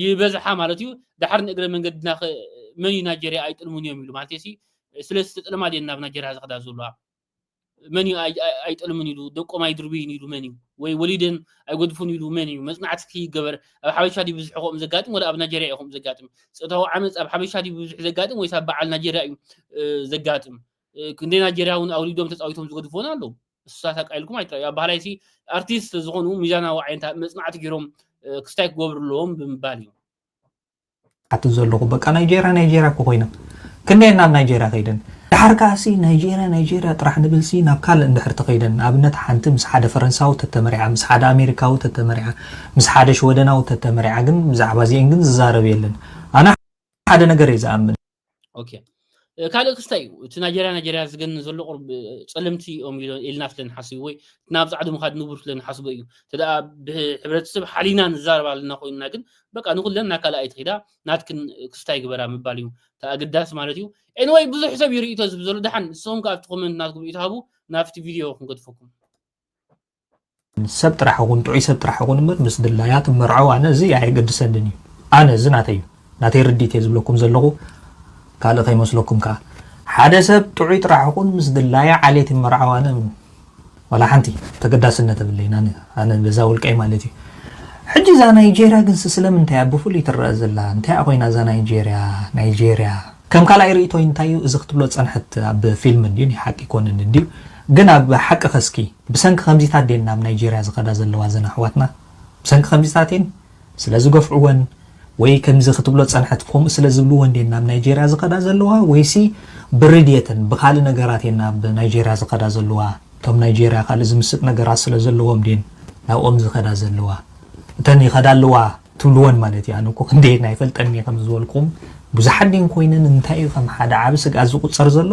ይበዝሓ ማለት እዩ ድሓር ንእግረ መንገድና መን እዩ ናይጀርያ ኣይጥልሙን እዮም ኢሉ ማለት ሲ ስለ ዝተጥለማ ድየን ናብ ናይጀርያ ዝኸዳ ዘለዋ መን እዩ ኣይጠልምን ኢሉ ደቆም ኣይድርብይን ኢሉ መን እዩ ወይ ወሊደን ኣይጎድፉን ኢሉ መን እዩ መጽናዕቲ ክይገበር ኣብ ሓበሻ ድዩ ብዝሕ ከምኡ ዘጋጥም ወላ ኣብ ናጀርያ እዩ ከምኡ ዘጋጥም ፆታዊ ዓመፅ ኣብ ሓበሻ ድዩ ብብዝሕ ዘጋጥም ወይስ ኣብ በዓል ናጀርያ እዩ ዘጋጥም ክንደይ ናጀርያ እውን ኣውሊዶም ተፃዊቶም ዝገድፉን ኣለዉ እሱታት ኣቃኢልኩም ኣይትራዩ ኣብ ባህላይሲ ኣርቲስት ዝኾኑ ሚዛናዊ ዓይነት መፅናዕቲ ገይሮም ክስታይ ክገብሩ ኣለዎም ብምባል እዩ ኣቲ ዘለኹ በቃ ናይጀርያ ናይጀርያ እኮ ኮይና ክንደይ ናብ ናይጀርያ ከይደን ድሓር ከዓሲ ናይጀርያ ናይጀርያ ጥራሕ ንብልሲ ናብ ካልእ እንድሕር ተኸይደን ንኣብነት ሓንቲ ምስ ሓደ ፈረንሳዊ ተተመሪዓ ምስ ሓደ ኣሜሪካዊ ተተመሪዓ ምስ ሓደ ሽወደናዊ ተተመሪዓ ግን ብዛዕባ እዚአን ግን ዝዛረብ የለን ኣነ ሓደ ነገር እየ ዝኣምን ኦኬ ካልእ ክስታይ እዩ እቲ ናይጀርያ ናይጀርያ ዝገን ዘሎ ቁርብ ፀለምቲ እዮም ኢልና ስለ ንሓስብ ወይ ናብ ፃዕዲ ምካድ ንቡር ስለ ንሓስቦ እዩ እንተ ሕብረተሰብ ሓሊና ንዛረብ ኣለና ኮይንና ግን በቃ ንኩለን ናብ ካልእ ኣይትኺዳ ናትክን ክስታይ ግበራ ምባል እዩ እቲ ኣገዳሲ ማለት እዩ ኤንወይ ብዙሕ ሰብ እዩ ርእቶ ዝብ ዘሎ ድሓን ንስኹም ከ ኣብቲ ኮመንት ናትኩም ርእቶ ሃቡ ናብቲ ቪድዮ ክንገድፈኩም ሰብ ጥራሕ ይኹን ጥዑይ ሰብ ጥራሕ ይኹን እምበር ምስ ድላያት መርዐው ኣነ እዚ ኣየገድሰንን እዩ ኣነ እዚ ናተይ እዩ ናተይ ርዲት እየ ዝብለኩም ዘለኹ ካልእ ከይመስለኩም ከዓ ሓደ ሰብ ጥዑይ ጥራሕ ይኹን ምስ ድላያ ዓሌት ይመርዐው ኣነ ዋላ ሓንቲ ተገዳስነት የብለይን ኣነ በዛ ውልቀይ ማለት እዩ ሕጂ እዛ ናይጀርያ ግን ስለምንታይ እያ ብፍሉይ ትረአ ዘላ እንታይ እያ ኮይና እዛ ናይጀርያ ናይጀርያ ከም ካልኣይ ርእቶይ እንታይ እዩ እዚ ክትብሎ ዝፀንሐት ኣብ ፊልም እንድዩ ናይ ሓቂ ይኮንን እንድዩ ግን ኣብ ሓቂ ከስኪ ብሰንኪ ከምዚታት ድየን ናብ ናይጀርያ ዝኸዳ ዘለዋ እዘን ኣሕዋትና? ብሰንኪ ከምዚታት እየን ስለ ዝገፍዕወን ወይ ከምዚ ክትብሎ ዝጸንሐት ከምኡ ስለ ዝብልወን ድየን ናብ ናይጀርያ ዝኸዳ ዘለዋ ወይሲ ብሪ ድየተን ብኻልእ ነገራት እየን ናብ ናይጀርያ ዝኸዳ ዘለዋ እቶም ናይጀርያ ካልእ ዝምስጥ ነገራት ስለ ዘለዎም ድየን ናብኦም ዝኸዳ ዘለዋ እተን ይኸዳ ኣለዋ ትብልወን ማለት እዩ ኣነ እኮ ክንደየን ኣይፈልጠን እየ ከም ዝበልኩም ብዙሓት ድየን ኮይነን እንታይ እዩ ከም ሓደ ዓቢ ስግኣት ዝቑጸር ዘሎ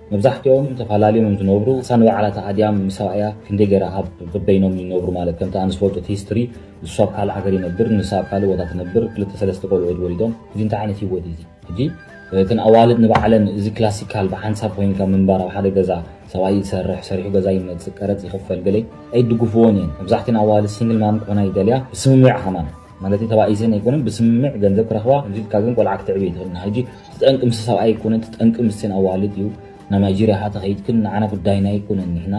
መብዛሕትኦም እንተ ፋላልዮም እዮም ዝነብሩ እሳ ንባዕላ እታ ኣድያም ምስ ሰብኣያ ክንደይ ገይራ ኣብ በበይኖም ይነብሩ ማለት ከምቲ ኣነ ዝፈልጦ እቲ history ንሱ ኣብ ካልእ ሃገር ይነብር ንሳ ኣብ ካልእ ቦታ ትነብር ክልተ ሰለስተ ቆልዑ እድ ወሊዶም እዚ እንታይ ዓይነት ሂወት እዩ እዚ ሕጂ እተን ኣዋልድ ንባዕለን እዚ ክላሲካል ብሓንሳብ ኮይንካ ምንባር ኣብ ሓደ ገዛ ሰብኣይ ይሰርሕ ሰሪሑ ገዛ ይመጽእ ቀረጽ ይኽፈል ገለ ኣይድግፍዎን እየን መብዛሕትኤን ኣዋልድ ሲንግል ማም ክኾና ይደልያ ብስምምዕ ከማን ማለተይ ተባኢሰን ኣይኮነን ብስምምዕ ገንዘብ ክረኽባ ከምዚ ኢልካ ግን ቆልዓ ክተዕቢ ኣይትኽእልን ኢኻ ሕጂ እቲ ጠንቂ ምስ ሰብኣይ ኣይኮነን እቲ ጠንቂ ምስን ኣዋልድ እዩ ናብ ናይጀርያ ሃ ተኸይድክን ንዓና ጉዳይና ኣይኮነን ንሕና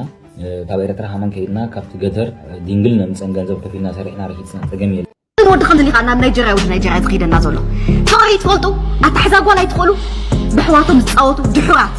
ካብ ኤርትራ ሃማን ከይድና ካብቲ ገተር ዲንግል ነምፀን ገንዘብ ከፊልና ሰሪሕና ረኪፅና ፀገም የለ ወዲ ከምዚ ዲኻ ናብ ናይጀርያ ወዲ ናይጀርያ ዝኸይደና ዘሎ ፍቕሪ ትፈልጡ ኣታሕዛ ጓል ኣይትኽእሉ ብሕዋቶም ዝፃወቱ ድሑራት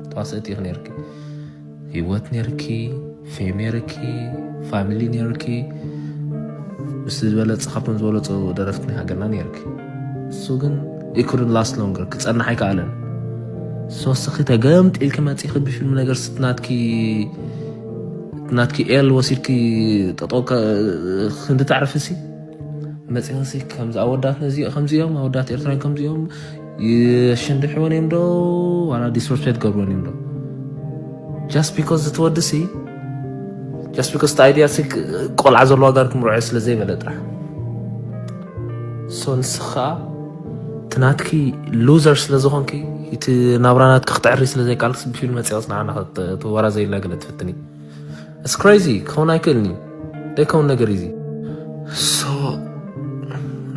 ተዋሰእቲ ኢኺ ነርኪ ህይወት ነርኪ ፌም ነርኪ ፋሚሊ ነርኪ ምስ ዝበለፅ ካብቶም ዝበለፁ ደረፍቲ ናይ ሃገርና ነርኪ እሱ ግን ኢኩርን ላስት ሎንገር ክፀናሕ ኣይከኣለን ሶስኺ ተገምጢልኪ መፂኺ ብፊልም ነገር ስትናትኪ ናትኪ ኤል ወሲድኪ ጠጦ ክንዲ ተዕርፍሲ መፂኽሲ ከምዚ ኣወዳት ነዚ ከምዚ እዮም ኣወዳት ኤርትራን ከምዚ እዮም የሽንድሕወን እዮም ዶ ዋላ ዲስርስፔክት ገብርወን እዮም ዶ ጃስት ቢኮዝ እቲ ወዲ ሲ ጃስት ቢኮዝ እቲ ኣይድያ ሲ ቆልዓ ዘለዋ ጋር ክምርዖ ስለ ዘይበለ ጥራሕ ሶ ንስኻ እቲ ናትኪ ሉዘር ስለ ዝኾንኪ እቲ ናብራ ናትኪ ክትዕሪ ስለ ዘይቃልክሲ ብፊልም መፅያ ፅንዓና ወራ ዘይላ ገለ ትፍትኒ It's crazy ክኸውን ኣይክእልን እዩ ደይከውን ነገር እዩ ሶ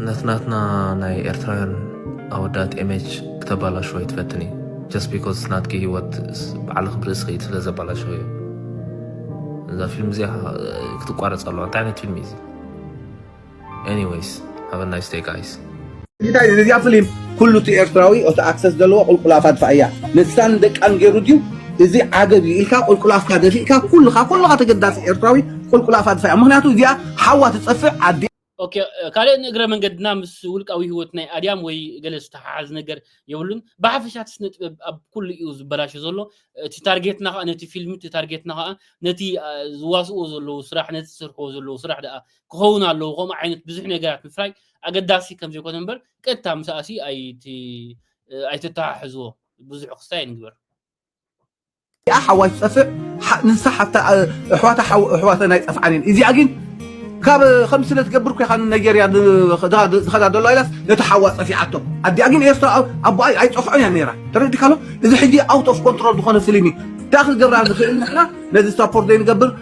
ነትናትና ናይ ኤርትራውያን ኣወዳት ኤሜጅ ክተባላሽዎ ይትፈትን እዩ ጀስት ቢኮዝ ናትኪ ሂወት ባዕልኺ ብርእስኺ ኢድ ስለ ዘባላሽኺ እዩ እዛ ፊልም እዚኣ ክትቋረፅ ኣለዋ እንታይ ዓይነት ፊልም እዩ እዚ እንታይ እዚኣ ፍሊም ኩሉ እቲ ኤርትራዊ እቲ ኣክሰስ ዘለዎ ቁልቁል ኣፋ ድፋኣ እያ ንሳን ደቃን ገይሩ ድዩ እዚ ዓገብ እዩ ኢልካ ቁልቁል ኣፍካ ደፊእካ ኩልኻ ኩልኻ ተገዳሲ ኤርትራዊ ቁልቁል ኣፋ ድፋኣ ምክንያቱ እዚኣ ሓዋ ትጸፍዕ ኣዲ ኦኬ ካልእ ንእግረ መንገድና ምስ ውልቃዊ ህይወት ናይ ኣድያም ወይ ገለ ዝተሓሓዝ ነገር የብሉን ብሓፈሻ እቲ ስነ ጥበብ ኣብ ኩሉ እዩ ዝበላሾ ዘሎ እቲ ታርጌትና ከዓ ነቲ ፊልም እቲ ታርጌትና ከዓ ነቲ ዝዋስእዎ ዘለዉ ስራሕ ነቲ ዝስርሕዎ ዘለዉ ስራሕ ደኣ ክኸውን ኣለዎ ከምኡ ዓይነት ብዙሕ ነገራት ምፍራይ ኣገዳሲ ከም ዘይኮነ እምበር ቀጥታ ምስኣሲ ኣይቲ ኣይተተሓሕዝዎ ብዙሕ ክስታይ ኣይንግበር እዚኣ ሓዋይ ትጠፍእ ንሳ ሓፍታ ኣሕዋታ ኣሕዋተን ኣይጠፍዓን እየን እዚኣ ግን ካብ ከም ስለ ትገብር ኮይካ ንናይጀርያ ዝኸዳ ዘሎ ኢላስ ነቲ ሓዋ ፀፊዓቶ ኣዲኣ ግን ኤርትራ ኣቦኣ ኣይፀፍዖን እያ ነይራ ተረዲካሎ እዚ ሕጂ ኣውት ኦፍ ኮንትሮል ዝኾነ ፍልም እዩ እንታይ ክገብራ ንኽእል ንሕና ነዚ ሳፖርት ዘይንገብር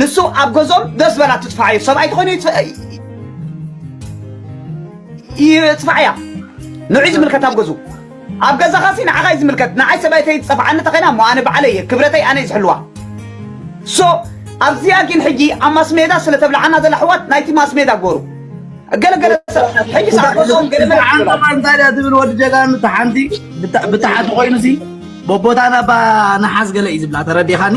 ንሱ ኣብ ገዝኦም ደስ በላ ትጥፋዕ እዩ ሰብኣይ ተኾይኑ ይጥፋዕ እያ ንዑይ ዝምልከት ኣብ ገዙ ኣብ ገዛኻ ሲ ንዓኻ እዩ ዝምልከት ንዓይ ሰበይተይ ዝፀፍዓኒ ተኸይና እሞ ኣነ ባዕለይ እየ ክብረተይ ኣነ እዩ ዝሕልዋ ሶ ኣብዚኣ ግን ሕጂ ኣብ ማስሜዳ ስለ ተብልዓና ዘላ ሕዋት ናይቲ ማስሜዳ ጎሩ ገለገለ ሰብ ሕጂ ሰዓ ገዝኦም ገለ መልዓንጠማ እንታይ ድያ ትብል ወዲ ጀጋኑ እታ ሓንቲ ብታሓቲ ኮይኑ ሲ ቦቦታና ባ ንሓዝ ገለ እዩ ዝብላ ተረዲኻኒ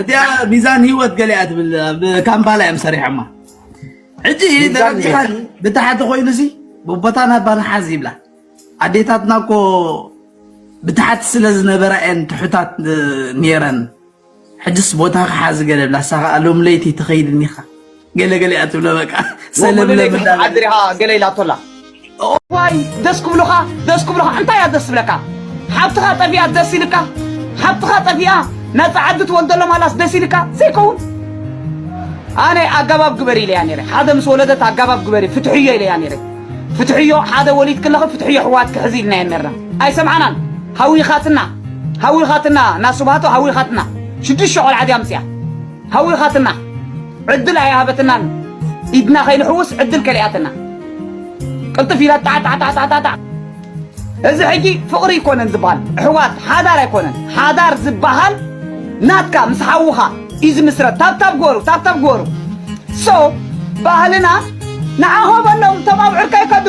እቲኣ ሚዛን ህይወት ገሊኣ ትብል ኣብ ካምፓላ እዮም ሰሪሖማ ሕጂ ደረጃኻን ብታሕቲ ኮይኑ ሲ ቦቦታ ናባ ንሓዝ ይብላ ኣዴታትና እኮ ብታሕቲ ስለ ዝነበራ እየን ትሑታት ነይረን ሕጅስ ቦታኻ ሓዚ ገለ ብላ ሳኻ ሎም ለይቲ ትኸይድ እኒኻ ገለ ገለ እያ ትብሎ በቃ ሰለምለም እንዳበለ ገለ ኢላ ኣቶላ ዋይ ደስ ክብሉኻ ደስ ክብሉኻ እንታይ እያ ደስ ዝብለካ ሓብትኻ ጠፊኣ ደስ ኢልካ ሓብትኻ ጠፊኣ ነፃ ዓዲ ትወልደሎም ኣላስ ደስ ኢልካ ዘይከውን ኣነ ኣገባብ ግበሪ ኢለያ ነይረ ሓደ ምስ ወለደት ኣገባብ ግበሪ ፍትሕዮ ኢለያ ነይረ ፍትሕዮ ሓደ ወሊድ ክለኸ ፍትሕዮ ሕዋት ክሕዚ ኢልና እየ ነርና ኣይሰምዓናን ሃዊኻትና ሃዊኻትና ናስባቶ ሃዊኻትና ሽዱሽተ ቆልዓ ድያ ምፅያ ሃዊኻትና ዕድል ኣይሃበትናን ኢድና ከይንሕውስ ዕድል ከሊኣትና ቅልጥፍ ኢላ ጣዕጣዕጣዕጣዕጣዕ እዚ ሕጂ ፍቕሪ ኣይኮነን ዝበሃል ኣሕዋት ሓዳር ኣይኮነን ሓዳር ዝበሃል ናትካ ምስ ሓውኻ እዩ ዝምስረት ታብታብ ግበሩ ታብታብ ግበሩ ሶ ባህልና ንዓኾ በሎም እቶም ኣብዑርካ ይከዱ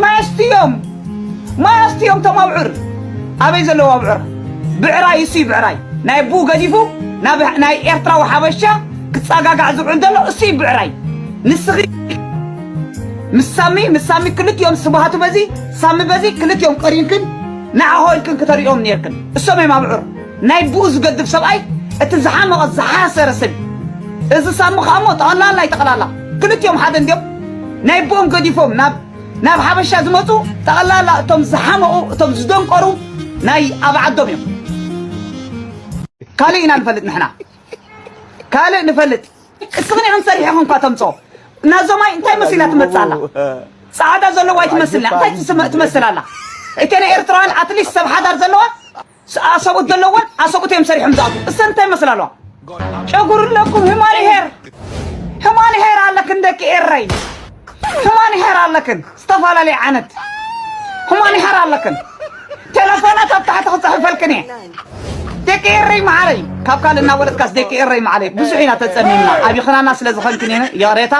ማየስትዮም ማይ ኣስትዮም እቶም ኣብዑር ኣበይ ዘለዉ ኣብዑር ብዕራይ እሱይ ብዕራይ ናይ ኣቡኡ ገዲፉ ናይ ኤርትራዊ ሓበሻ ክጸጋጋዕ ዝውዕል ዘሎ እሱይ ብዕራይ ንስኺ ምስ ሳሚ ምስ ሳሚ ክልቲኦም ስብሃቱ በዚ ሳሚ በዚ ክልቲኦም ቀሪንክን ንዓሆ ኢልክን ክተርእዮም ነርክን እሶም እዮም ኣብዑር ናይ ብኡ ዝገድፍ ሰብኣይ እቲ ዝሓመቐ ዝሓሰረ ሰብ እዚ ሳሚ ከኣሞ ጠቕላላ ይጠቕላላ ክልቲኦም ሓደ እንዲዮም ናይ ብኦም ገዲፎም ናብ ናብ ሓበሻ ዝመጹ ጠቕላላ እቶም ዝሓመቑ እቶም ዝደንቆሩ ናይ ኣብ ዓዶም እዮም። ካልእ ኢና ንፈልጥ ንሕና ካልእ ንፈልጥ እስኽን ኢኽን ሰሪሕኹም እኳ ተምጽኦ ናዞማይ እንታይ መሲላ ትመጽእ ኣላ ጻዕዳ ዘለዋ ኣይትመስልና እንታይ ትመስል ኣላ እተን ኤርትራውያን ኣትሊስት ሰብ ሓዳር ዘለዋ ኣሰብኡት ዘለወን ኣሰብኡት እዮም ሰሪሖም ዝኣትዉ እሰን እንታይ ይመስላ ኣለዋ ጨጉር ኣለኩም ህማን ሄር ህማን ሄር ኣለክን ደቂ ኤረይ ህማን ሄር ኣለክን ዝተፈላለየ ዓይነት ህማን ሄር ኣለክን ቴለፎናት ኣብ ታሕቲ ክፅሕፈልክን እየ ደቂ ኤረይ መዓረይ ካብ ካልእ እናወለጥካስ ደቂ ኤረይ መዓረይ ብዙሕ ኢና ተፀሚምና ኣብይኽናና ስለ ዝኾንክን ይቕሬታ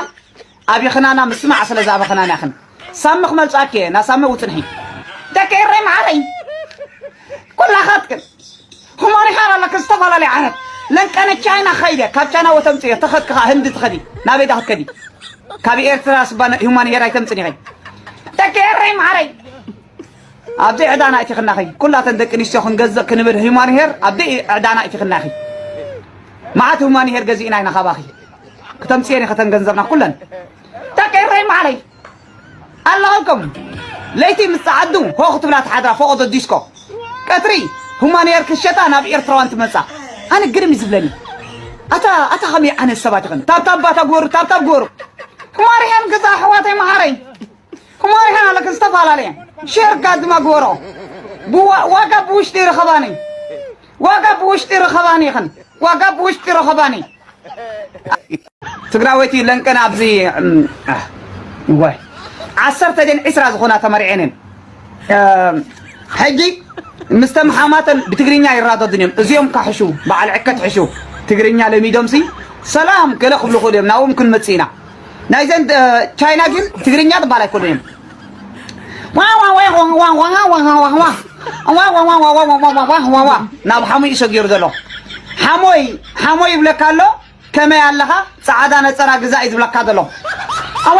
ኣቢክና እና ምስማዕ ስለ ዝኣበክናን ያክን ሳሚ ክመልጻኪ እየ እና ሳሚ ውጽንሒ ደቂ ኤረይ መዓረይ ኩላካትክን ሁማን ኢካ ኣለክን ዝተፈላለዩ ዓረት ለንቀነ ቻይና ከይደ ካብ ቻይና ወተምጽ እየ ተኸድኪ ከኣ ህንዲ ትኸዲ ናበይ ዳ ክትከዲ ካብ ኤርትራ ስባ ሁማን ሄር ኣይተምጽን ኢኺ ደቂ ኤረይ መዓረይ ኣብዘይ ዕዳና እቲኽናኺ ኩላተን ደቂ ኣንስትዮ ክንገዝእ ክንብል ሂማን ሄር ኣብዘይ ዕዳና እቲኽናኺ መዓት ሂማን ሄር ገዚእና ኢና ካባኺ ክተምፅየን ከተን ገንዘብና ኩለን ደቂ ኤረይ ማዕረይ ኣለኹልኩም ለይቲ ምስ ፀዓዱ ሆ ክትብላ ትሓድራ ፎቆዶ ዲስኮ ቀትሪ ሂማን ሄር ክሸጣ ናብ ኤርትራዋን ትመፃ ኣነ ግርም እዩ ዝብለኒ ኣታ ኣታ ከመይ ዓይነት ሰባት ይኸን ታብታብ ባታ ግበሩ ታብታብ ግበሩ ሂማን ሄር ገዛ ኣሕዋተይ መዓረይ እሞ ይኸን ኣለክ ዝተፈላለየ ሸር ጋዝማ ግበሮ ዋጋ ብውሽጢ ይረኸባኒ ዋጋ ብውሽጢ ይረኸባኒ ይኸን ዋጋ ብውሽጢ ይረኸባኒ ትግራወይቲ ለንቀን ኣብዚ ወይ ዓሰርተ ደን ዕስራ ዝኾና ተመሪዐንን ሕጂ ምስተም ሓማተን ብትግርኛ ይራደድን እዮም እዚኦም ካሕሹ በዓል ዕከት ሕሹ ትግርኛ ለሚዶምሲ ሰላም ገለ ክብሉ ክእሉ እዮም ናብኦም ክንመፅእ ኢና ናይዘን ቻይና ግን ትግርኛ ትባል ኣይኮነን ናብ ሓሙይ ሰጊሩ ዘሎ ሓሞይ ሓሞይ ይብለካ ኣሎ ከመይ ኣለኻ ፃዓዳ ነፀራ ግዛ እዩ ዝብለካ ዘሎ ኣዋ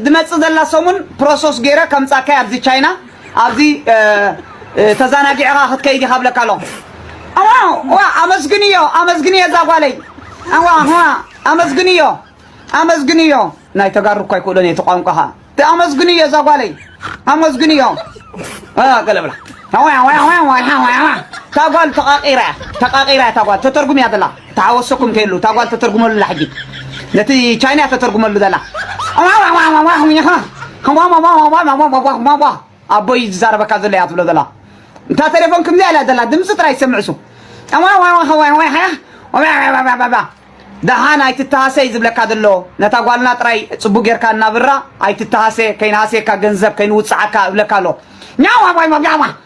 ድመጽእ ዘላ ሰሙን ፕሮሶስ ገይረ ከምጻካይ ኣብዚ ቻይና ኣብዚ ተዛናጊዕኻ ክትከይድ ኢኻ ብለካ ኣለኹ ዋ ኣመስግንዮ ኣመስግንዮ እዛ ጓለይ ዋ ኣመስግንዮ ኣመስግንዮ ናይ ተጋሩ እኳ ይክእሎን እየ እቲ ቋንቋ ኸዓ ኣመስግንዮ እዛ ጓለይ ኣመስግንዮ ገለ ብላ ታጓል ተቃቂራ ተቃቂራ ታጓል ተተርጉም እያ ዘላ ተሓወሶኩም እንተይሉ እታ ጓል ተተርጉመሉ ኣላ ሕጂ ነቲ ቻይና ተተርጉመሉ ዘላ ኣቦይ ዝዛረበካ ዘሎ እያ ትብሎ ዘላ እታ ተሌፎን ከምዚኣ እያ ዘላ ድምፂ ጥራይ ዝሰምዕ እሱ ደሓን ኣይትተሃሰይ ዝብለካ ዘሎ ነታ ጓልና ጥራይ ፅቡቅ ጌርካ እናብራ ኣይትተሃሰ ከይንሃስየካ ገንዘብ ከይንውፅዓካ እብለካ ኣሎ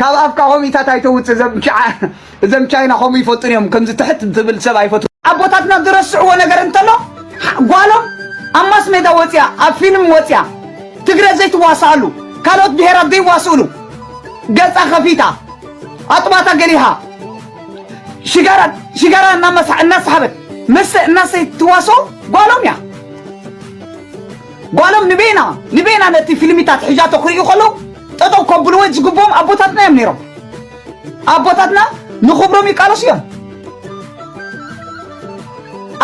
ካብ ኣፍካ ኮሚታት ኣይተውጽእ እዘም ቻይና ከምኡ ይፈጡን እዮም ከምዚ ትሕት ትብል ሰብ ኣይፈት ኣቦታትና ዝረስዕዎ ነገር እንተሎ ጓሎም ኣብ ማስ ሜዳ ወፅያ ኣብ ፊልም ወፅያ ትግረ ዘይትዋሳኣሉ ካልኦት ብሄራት ዘይዋስእሉ ገፃ ከፊታ ኣጥባታ ገሊሃ ሽጋራ ሽጋራ እናሳሓበት መስተ እናሰይ ትዋስኦ ጓሎም እያ ጓሎም ንቤና ንቤና ነቲ ፊልሚታት ሒዣቶ ክርእዩ ከለዉ ጠጠው ከብልዎ ዝግብኦም ኣቦታትና እዮም ነይሮም። ኣቦታትና ንኽብሮም ይቃለሱ እዮም።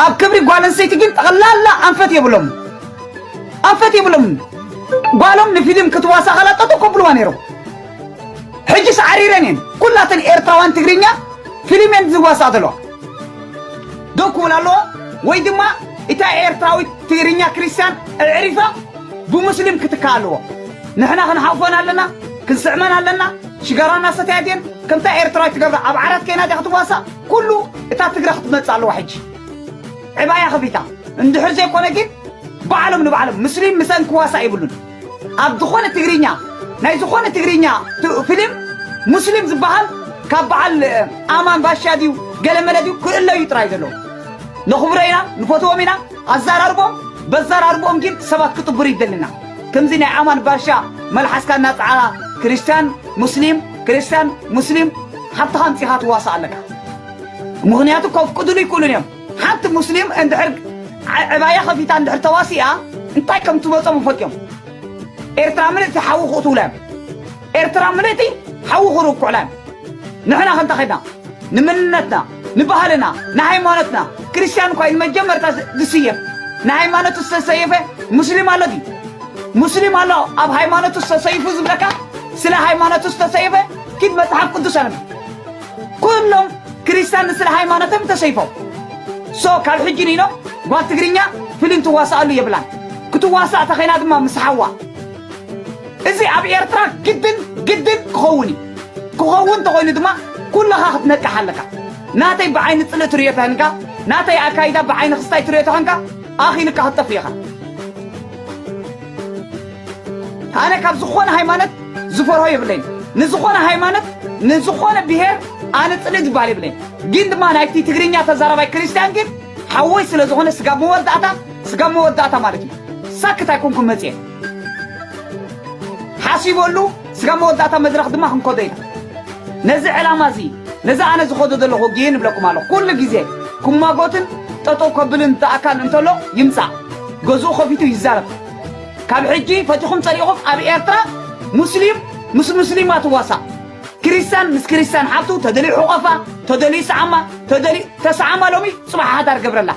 ኣብ ክብሪ ጓል ኣንስተይቲ ግን ጠቕላላ ኣንፈት የብሎም ኣንፈት የብሎም ጓሎም ንፊልም ክትዋሳ ከላ ጠጦ ከብልዋ ነይሮም ሕጂ ሰዓሪረን እየን ኩላተን ኤርትራውያን ትግርኛ ፊልም እየን ዝዋሳ ዘለዋ ደው ክብል ኣለዎ ወይ ድማ እታ ኤርትራዊት ትግርኛ ክርስትያን ኣዕሪፋ ብሙስሊም ክትካእ ኣለዎ ንሕና ክንሓቁፈን ኣለና ክንስዕመን ኣለና ሽጋራና ሰትያ ድየን ከምታ ኤርትራዊት ትገብራ ኣብ ዓራት ከይና ድያ ክትዋሳእ ኩሉ እታ ትግረ ክትመጽእ ኣለዋ ሕጂ ዕባያ ከፊታ እንድሕር ዘይኮነ ግን ባዕሎም ንባዕሎም ሙስሊም ምሰን ክዋሳእ ይብሉን ኣብ ዝኾነ ትግርኛ ናይ ዝኾነ ትግርኛ ፍሊም ሙስሊም ዝባሃል ካብ ባዓል ኣማን ባሻ ድዩ ገለመለ ድዩ ክእለ እዩ ጥራይ ዘለዎ ነኽብሮ ኢና ንፈትዎም ኢና ኣዛራርቦም በዛራርቦም ግን ሰባት ክጥብሩ ይደልና ከምዚ ናይ ኣማን ባሻ መልሓስካ እናጽዓኻ ክርስቲያን ሙስሊም ክርስቲያን ሙስሊም ሓብትኻ ኣምጺኻ ትዋሳእ ኣለካ ምኽንያቱ ከፍቅድሉ ይክእሉን እዮም ሓንቲ ሙስሊም እንድሕር ዕባያ ከፊታ እንድሕር ተዋሲኣ እንታይ ከም ትመጾም ይፈልጥዮም ኤርትራ ምልእቲ ሓዊ ክቕትውላዮም ኤርትራ ምልእቲ ሓዊ ክርኩዕላዮም ንሕና ከንታ ኸድና ንምንነትና ንባህልና ንሃይማኖትና ክርስቲያን እኳ ንመጀመርታ ዝስየፍ ንሃይማኖቱ ዝተሰየፈ ሙስሊም ኣሎ ድዩ ሙስሊም ኣሎ ኣብ ሃይማኖቱ ዝተሰይፉ ዝብለካ ስለ ሃይማኖቱ ዝተሰየፈ ኪድ መፅሓፍ ቅዱስ ኣነብ ኩሎም ክርስትያን ንስለ ሃይማኖቶም ተሰይፎም ሶ ካብ ሕጂ ንኢሎም ጓል ትግርኛ ፍሊም ትዋሳኣሉ የብላን ክትዋሳእ ተኸይና ድማ ምስ ሓዋ እዚ ኣብ ኤርትራ ግድን ግድን ክኸውን እዩ ክኸውን ተኾይኑ ድማ ኩለኻ ክትነቅሕ ኣለካ ናተይ ብዓይኒ ፅልእ ትርእዮ ተህንካ ናተይ ኣካይዳ ብዓይኒ ክስታይ ትርእዮ ተኸንካ ኣኺልካ ክትጠፍእ ኢኻ ኣነ ካብ ዝኾነ ሃይማኖት ዝፈርሆ የብለይን ንዝኾነ ሃይማኖት ንዝኾነ ብሄር ኣነ ፅልኢ ዝበሃል የብለይን ግን ድማ ናይቲ ትግርኛ ተዛራባይ ክርስቲያን ግን ሓወይ ስለ ዝኾነ ስጋብ መወዳእታ ስጋብ መወዳእታ ማለት እዩ ሳክት ኣይኮንኩም መፅየ ሓሲበሉ ስጋብ መወዳእታ መድረኽ ድማ ክንከዶ ኢና። ነዚ ዕላማ እዚ ነዚ ኣነ ዝኸዶ ዘለኹ ውግእን እብለኩም ኣለኹ። ኩሉ ግዜ ክሟጎትን ጠጠው ከብልን ዝኣካል እንተሎ ይምጻእ ገዝኡ ከፊቱ ይዛረብ። ካብ ሕጂ ፈቲኹም ጸሊእኹም ኣብ ኤርትራ ሙስሊም ምስ ሙስሊም ኣትዋሳእ ክርስቲያን ምስ ክርስቲያን ሓብቱ ተደልዩ ሕቆፋ ተደልዩ ሰዓማ ተደልዩ ተሰዓማ ሎሚ ጽባሕ ሓዳር ገብረላ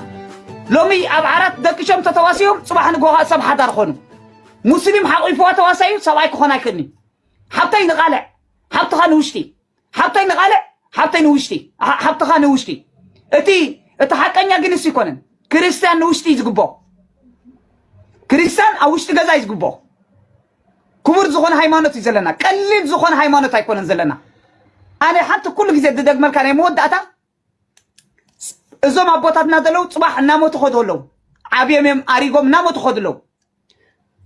ሎሚ ኣብ ዓራት ደቅሾም ተተዋሲዮም ጽባሕ ንጎኻ ሰብ ሓዳር ኾኑ ሙስሊም ሓቂፍዋ ተዋሳዩ ሰብኣይ ክኾን ኣይክእልን እዩ ሓብተይ ንቓልዕ ሓብትኻ ንውሽጢ ሓብተይ ንቓልዕ ሓብተይ ንውሽጢ ሓ- ሓብትኻ ንውሽጢ እቲ እቲ ሓቀኛ ግን እሱ ይኮነን ክርስትያን ንውሽጢ እዩ ዝግብኦ ክርስትያን ኣብ ውሽጢ ገዛ እዩ ዝግብኦ ክቡር ዝኾነ ሃይማኖት እዩ ዘለና ቀሊል ዝኾነ ሃይማኖት ኣይኮነን ዘለና ኣነ ሓንቲ ኩሉ ግዜ ዝደግመልካ ናይ መወዳእታ እዞም ኣቦታትና ዘለው ፅባሕ እናሞቱ ከዱ ኣለው ዓብዮም እዮም ኣሪጎም እናሞቱ ከዱ ኣለው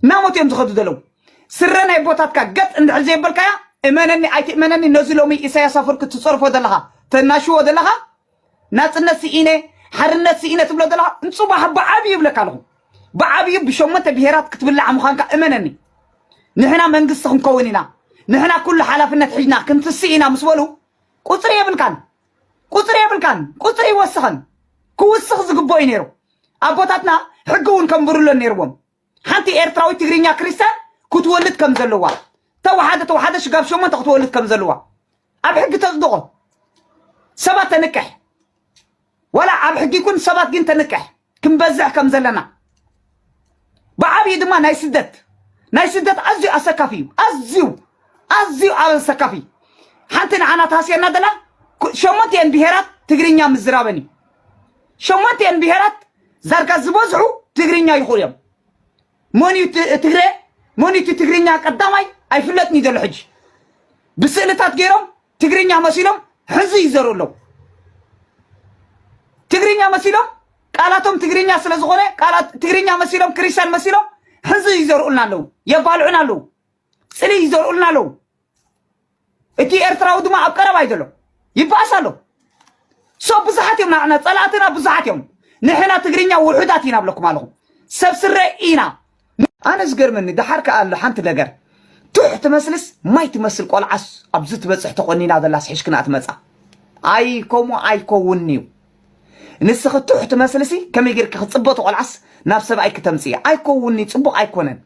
እናሞቱ እዮም ዝኸዱ ዘለው ስረ ናይ ቦታትካ ገጥ እንድሕር ዘይበልካያ እመነኒ ኣይትእመነኒ ነዚ ሎሚ ኢሳያስ ኣፈወርቂ ትፀርፎ ዘለኻ ተናሽዎ ዘለኻ ናፅነት ስኢነ ሓርነት ስኢነ ትብሎ ዘለኻ ንፅባሕ ብዓብዩ ይብለካ ኣለኹ ብዓብዩ ብሸሞንተ ብሄራት ክትብላዕ ምዃንካ እመነኒ ንሕና መንግስቲ ክንከውን ኢና ንሕና ኩሉ ሓላፍነት ሒዝና ክንትስእ ኢና ምስ በሉ ቁፅሪ የብልካን ቁፅሪ የብልካን ቁፅሪ ይወስኸን ክውስኽ ዝግብኦ እዩ ነይሩ ኣቦታትና ሕጊ እውን ከንብሩለን ነይርዎም ሓንቲ ኤርትራዊት ትግርኛ ክርስቲያን ክትወልድ ከም ዘለዋ ተዋሓደ ተዋሓደ ሽጋብ ሸሞንተ ክትወልድ ከም ዘለዋ ኣብ ሕጊ ተፅድቆ ሰባት ተንቅሕ ዋላ ኣብ ሕጊ ይኩን ሰባት ግን ተንቅሕ ክንበዝሕ ከም ዘለና ብዓብዪ ድማ ናይ ስደት ናይ ስደት ኣዝዩ ኣሰካፊ እዩ ኣዝዩ ኣዝዩ ኣሰካፊ ሓንቲ ንዓና ተሃስየና ዘላ ሸሞንቲኤን ብሄራት ትግርኛ ምዝራበን እዩ ሸሞንቲኤን ብሄራት ዛርጋ ዝበዝሑ ትግርኛ ይኽእሉ እዮም መን እዩ ትግረ መን እዩ ትግርኛ ቀዳማይ ኣይፍለጥን እዩ ዘሎ ሕጂ ብስእልታት ገይሮም ትግርኛ መሲሎም ሕዙ ይዘሩ ኣለዉ ትግርኛ መሲሎም ቃላቶም ትግርኛ ስለ ዝኾነ ቃላት ትግርኛ መሲሎም ክርስቲያን መሲሎም ሕዙ ይዘርኡልና ኣለዉ የባልዑና ኣለዉ ፅሊ ይዘርኡልና ኣለዉ እቲ ኤርትራዊ ድማ ኣብ ቀረባ እዩ ዘሎ ይበኣስ ኣሎ ሶብ ብዙሓት እዮም ናዕና ፀላእትና ብዙሓት እዮም ንሕና ትግርኛ ውሑዳት ኢና ብለኩም ኣለኹ ሰብ ስረ ኢና ኣነ ዝገርመኒ ደሓር ከኣ ኣሎ ሓንቲ ነገር ቱሕ ትመስልስ ማይ ትመስል ቆልዓስ ኣብዚ ትበፅሕ ተቆኒና ዘላስ ሕሽክና ትመፃ ኣይ ከምኡ ኣይከውን እዩ ንስኺ ቱሕ ትመስልሲ ከመይ ጌርኪ ክፅበ ተቆልዓስ ናብ ሰብኣይ ክተምፅኢ ኣይከውን እዩ ፅቡቕ ኣይኮነን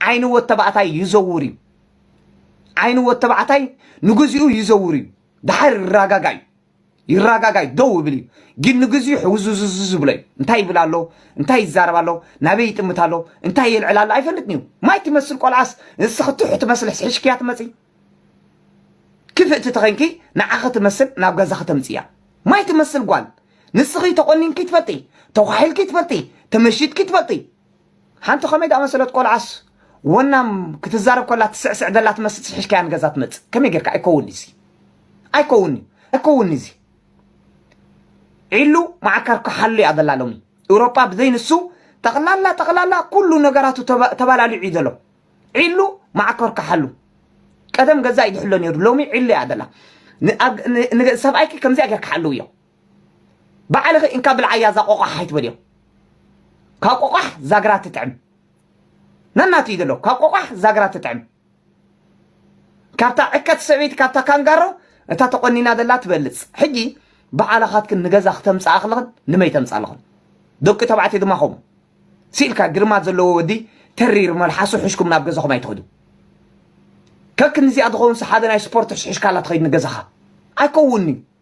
ዓይኒ ወተባዕታይ ይዘውር እዩ ዓይኒ ወተባዕታይ ንግዚኡ ይዘውር እዩ ደሓር ይረጋጋ እዩ ይረጋጋይ ደው ይብል እዩ ግን ንግዚኡ ሕውዝዝዝ ዝብሎ እዩ እንታይ ይብል ኣሎ እንታይ ይዛረብ ኣሎ ናበይ ይጥምት ኣሎ እንታይ የልዕል ኣሎ ኣይፈልጥን እዩ ማይ ትመስል ቆልዓስ ንስኺ ትሑ ትመስል ሕሽክያ ትመፂ ክፍእቲ ተኸንኪ ንዓኺ ትመስል ናብ ገዛኺ ተምፅያ ማይ ትመስል ጓል ንስኺ ተቆኒንኪ ትፈልጢ ተኳሒልኪ ትፈልጢ ተመሽጥኪ ትፈልጢ ሓንቲ ከመይ ዝኣመሰለት ቆልዓስ ወናም ክትዛረብ ከላ ትስዕስዕ ዘላ ትመስል ስሒሽካያ ንገዛ ትመጽእ ከመይ ጌርካ ኣይከውን እዚ ኣይከውን እዩ ኣይከውን እዚ ዒሉ ማዓካር ክሓሉ እያ ዘላ ሎሚ ኤውሮጳ ብዘይ ንሱ ጠቕላላ ጠቕላላ ኩሉ ነገራቱ ተባላሊዑ እዩ ዘሎ ዒሉ ማዓኮር ክሓሉ ቀደም ገዛ እዩ ዝሕሎ ነይሩ ሎሚ ዒሉ እያ ዘላ ሰብኣይኪ ከምዚኣ ጌርካ ሓልውዮ ባዕልኺ እንካ ብልዓያ እዛ ቆቋሕ ኣይትበልዮ ካብ ቆቋሕ ዛግራ ትጥዕም ነናቱ እዩ ዘሎ ካብ ቆቋሕ ዛግራ ትጥዕም ካብታ ዕከት ሰበይቲ ካብታ ካንጋሮ እታ ተቆኒና ዘላ ትበልፅ ሕጂ ብዓላኻትክን ንገዛ ክተምፅኣ ክለኽን ንመይ ተምፅኣ ኣለኽን ደቂ ተባዕትዮ ድማ ከምኡ ስኢልካ ግርማ ዘለዎ ወዲ ተሪር መልሓሱ ሕሽኩም ናብ ገዛኹም ኣይትኸዱ ከክንዚኣ ዝኸውን ሰሓቢ ናይ ስፖርት ሕሽሕሽካላ ትኸይድ ንገዛኻ ኣይከውንዩ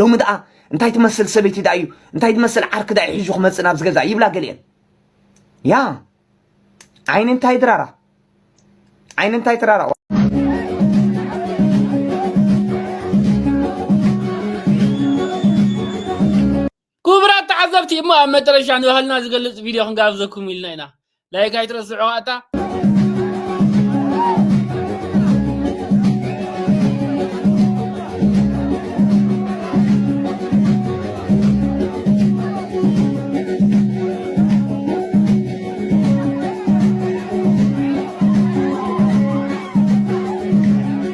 ሎሚ ደኣ እንታይ ትመስል ሰበይቲ ደኣ እዩ እንታይ ትመስል ዓርኪ ደኣ ሒዙ ክመፅእ ናብዚ ገዛ ይብላ ገሊአን ያ ዓይኒ እንታይ ድራራ ዓይኒ እንታይ ትራራ ክቡራት ተዓዘብቲ እሞ ኣብ መጨረሻ ንባህልና ዝገልጽ ቪድዮ ክንጋብዘኩም ኢልና ኢና ላይክ ኣይትረስዑ ኣታ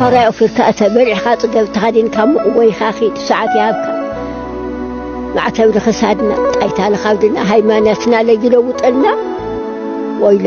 ዋጋ ወፊርካ እተ በሊዕኻ ፅገብ ተኸዲንካ ምቕወይኻ ኺድ ሰዓት ይሃብካ ማዕተብ ንኽሳድና ጣይታ ንኻብድና ሃይማኖትና ለይለውጠልና ወይለ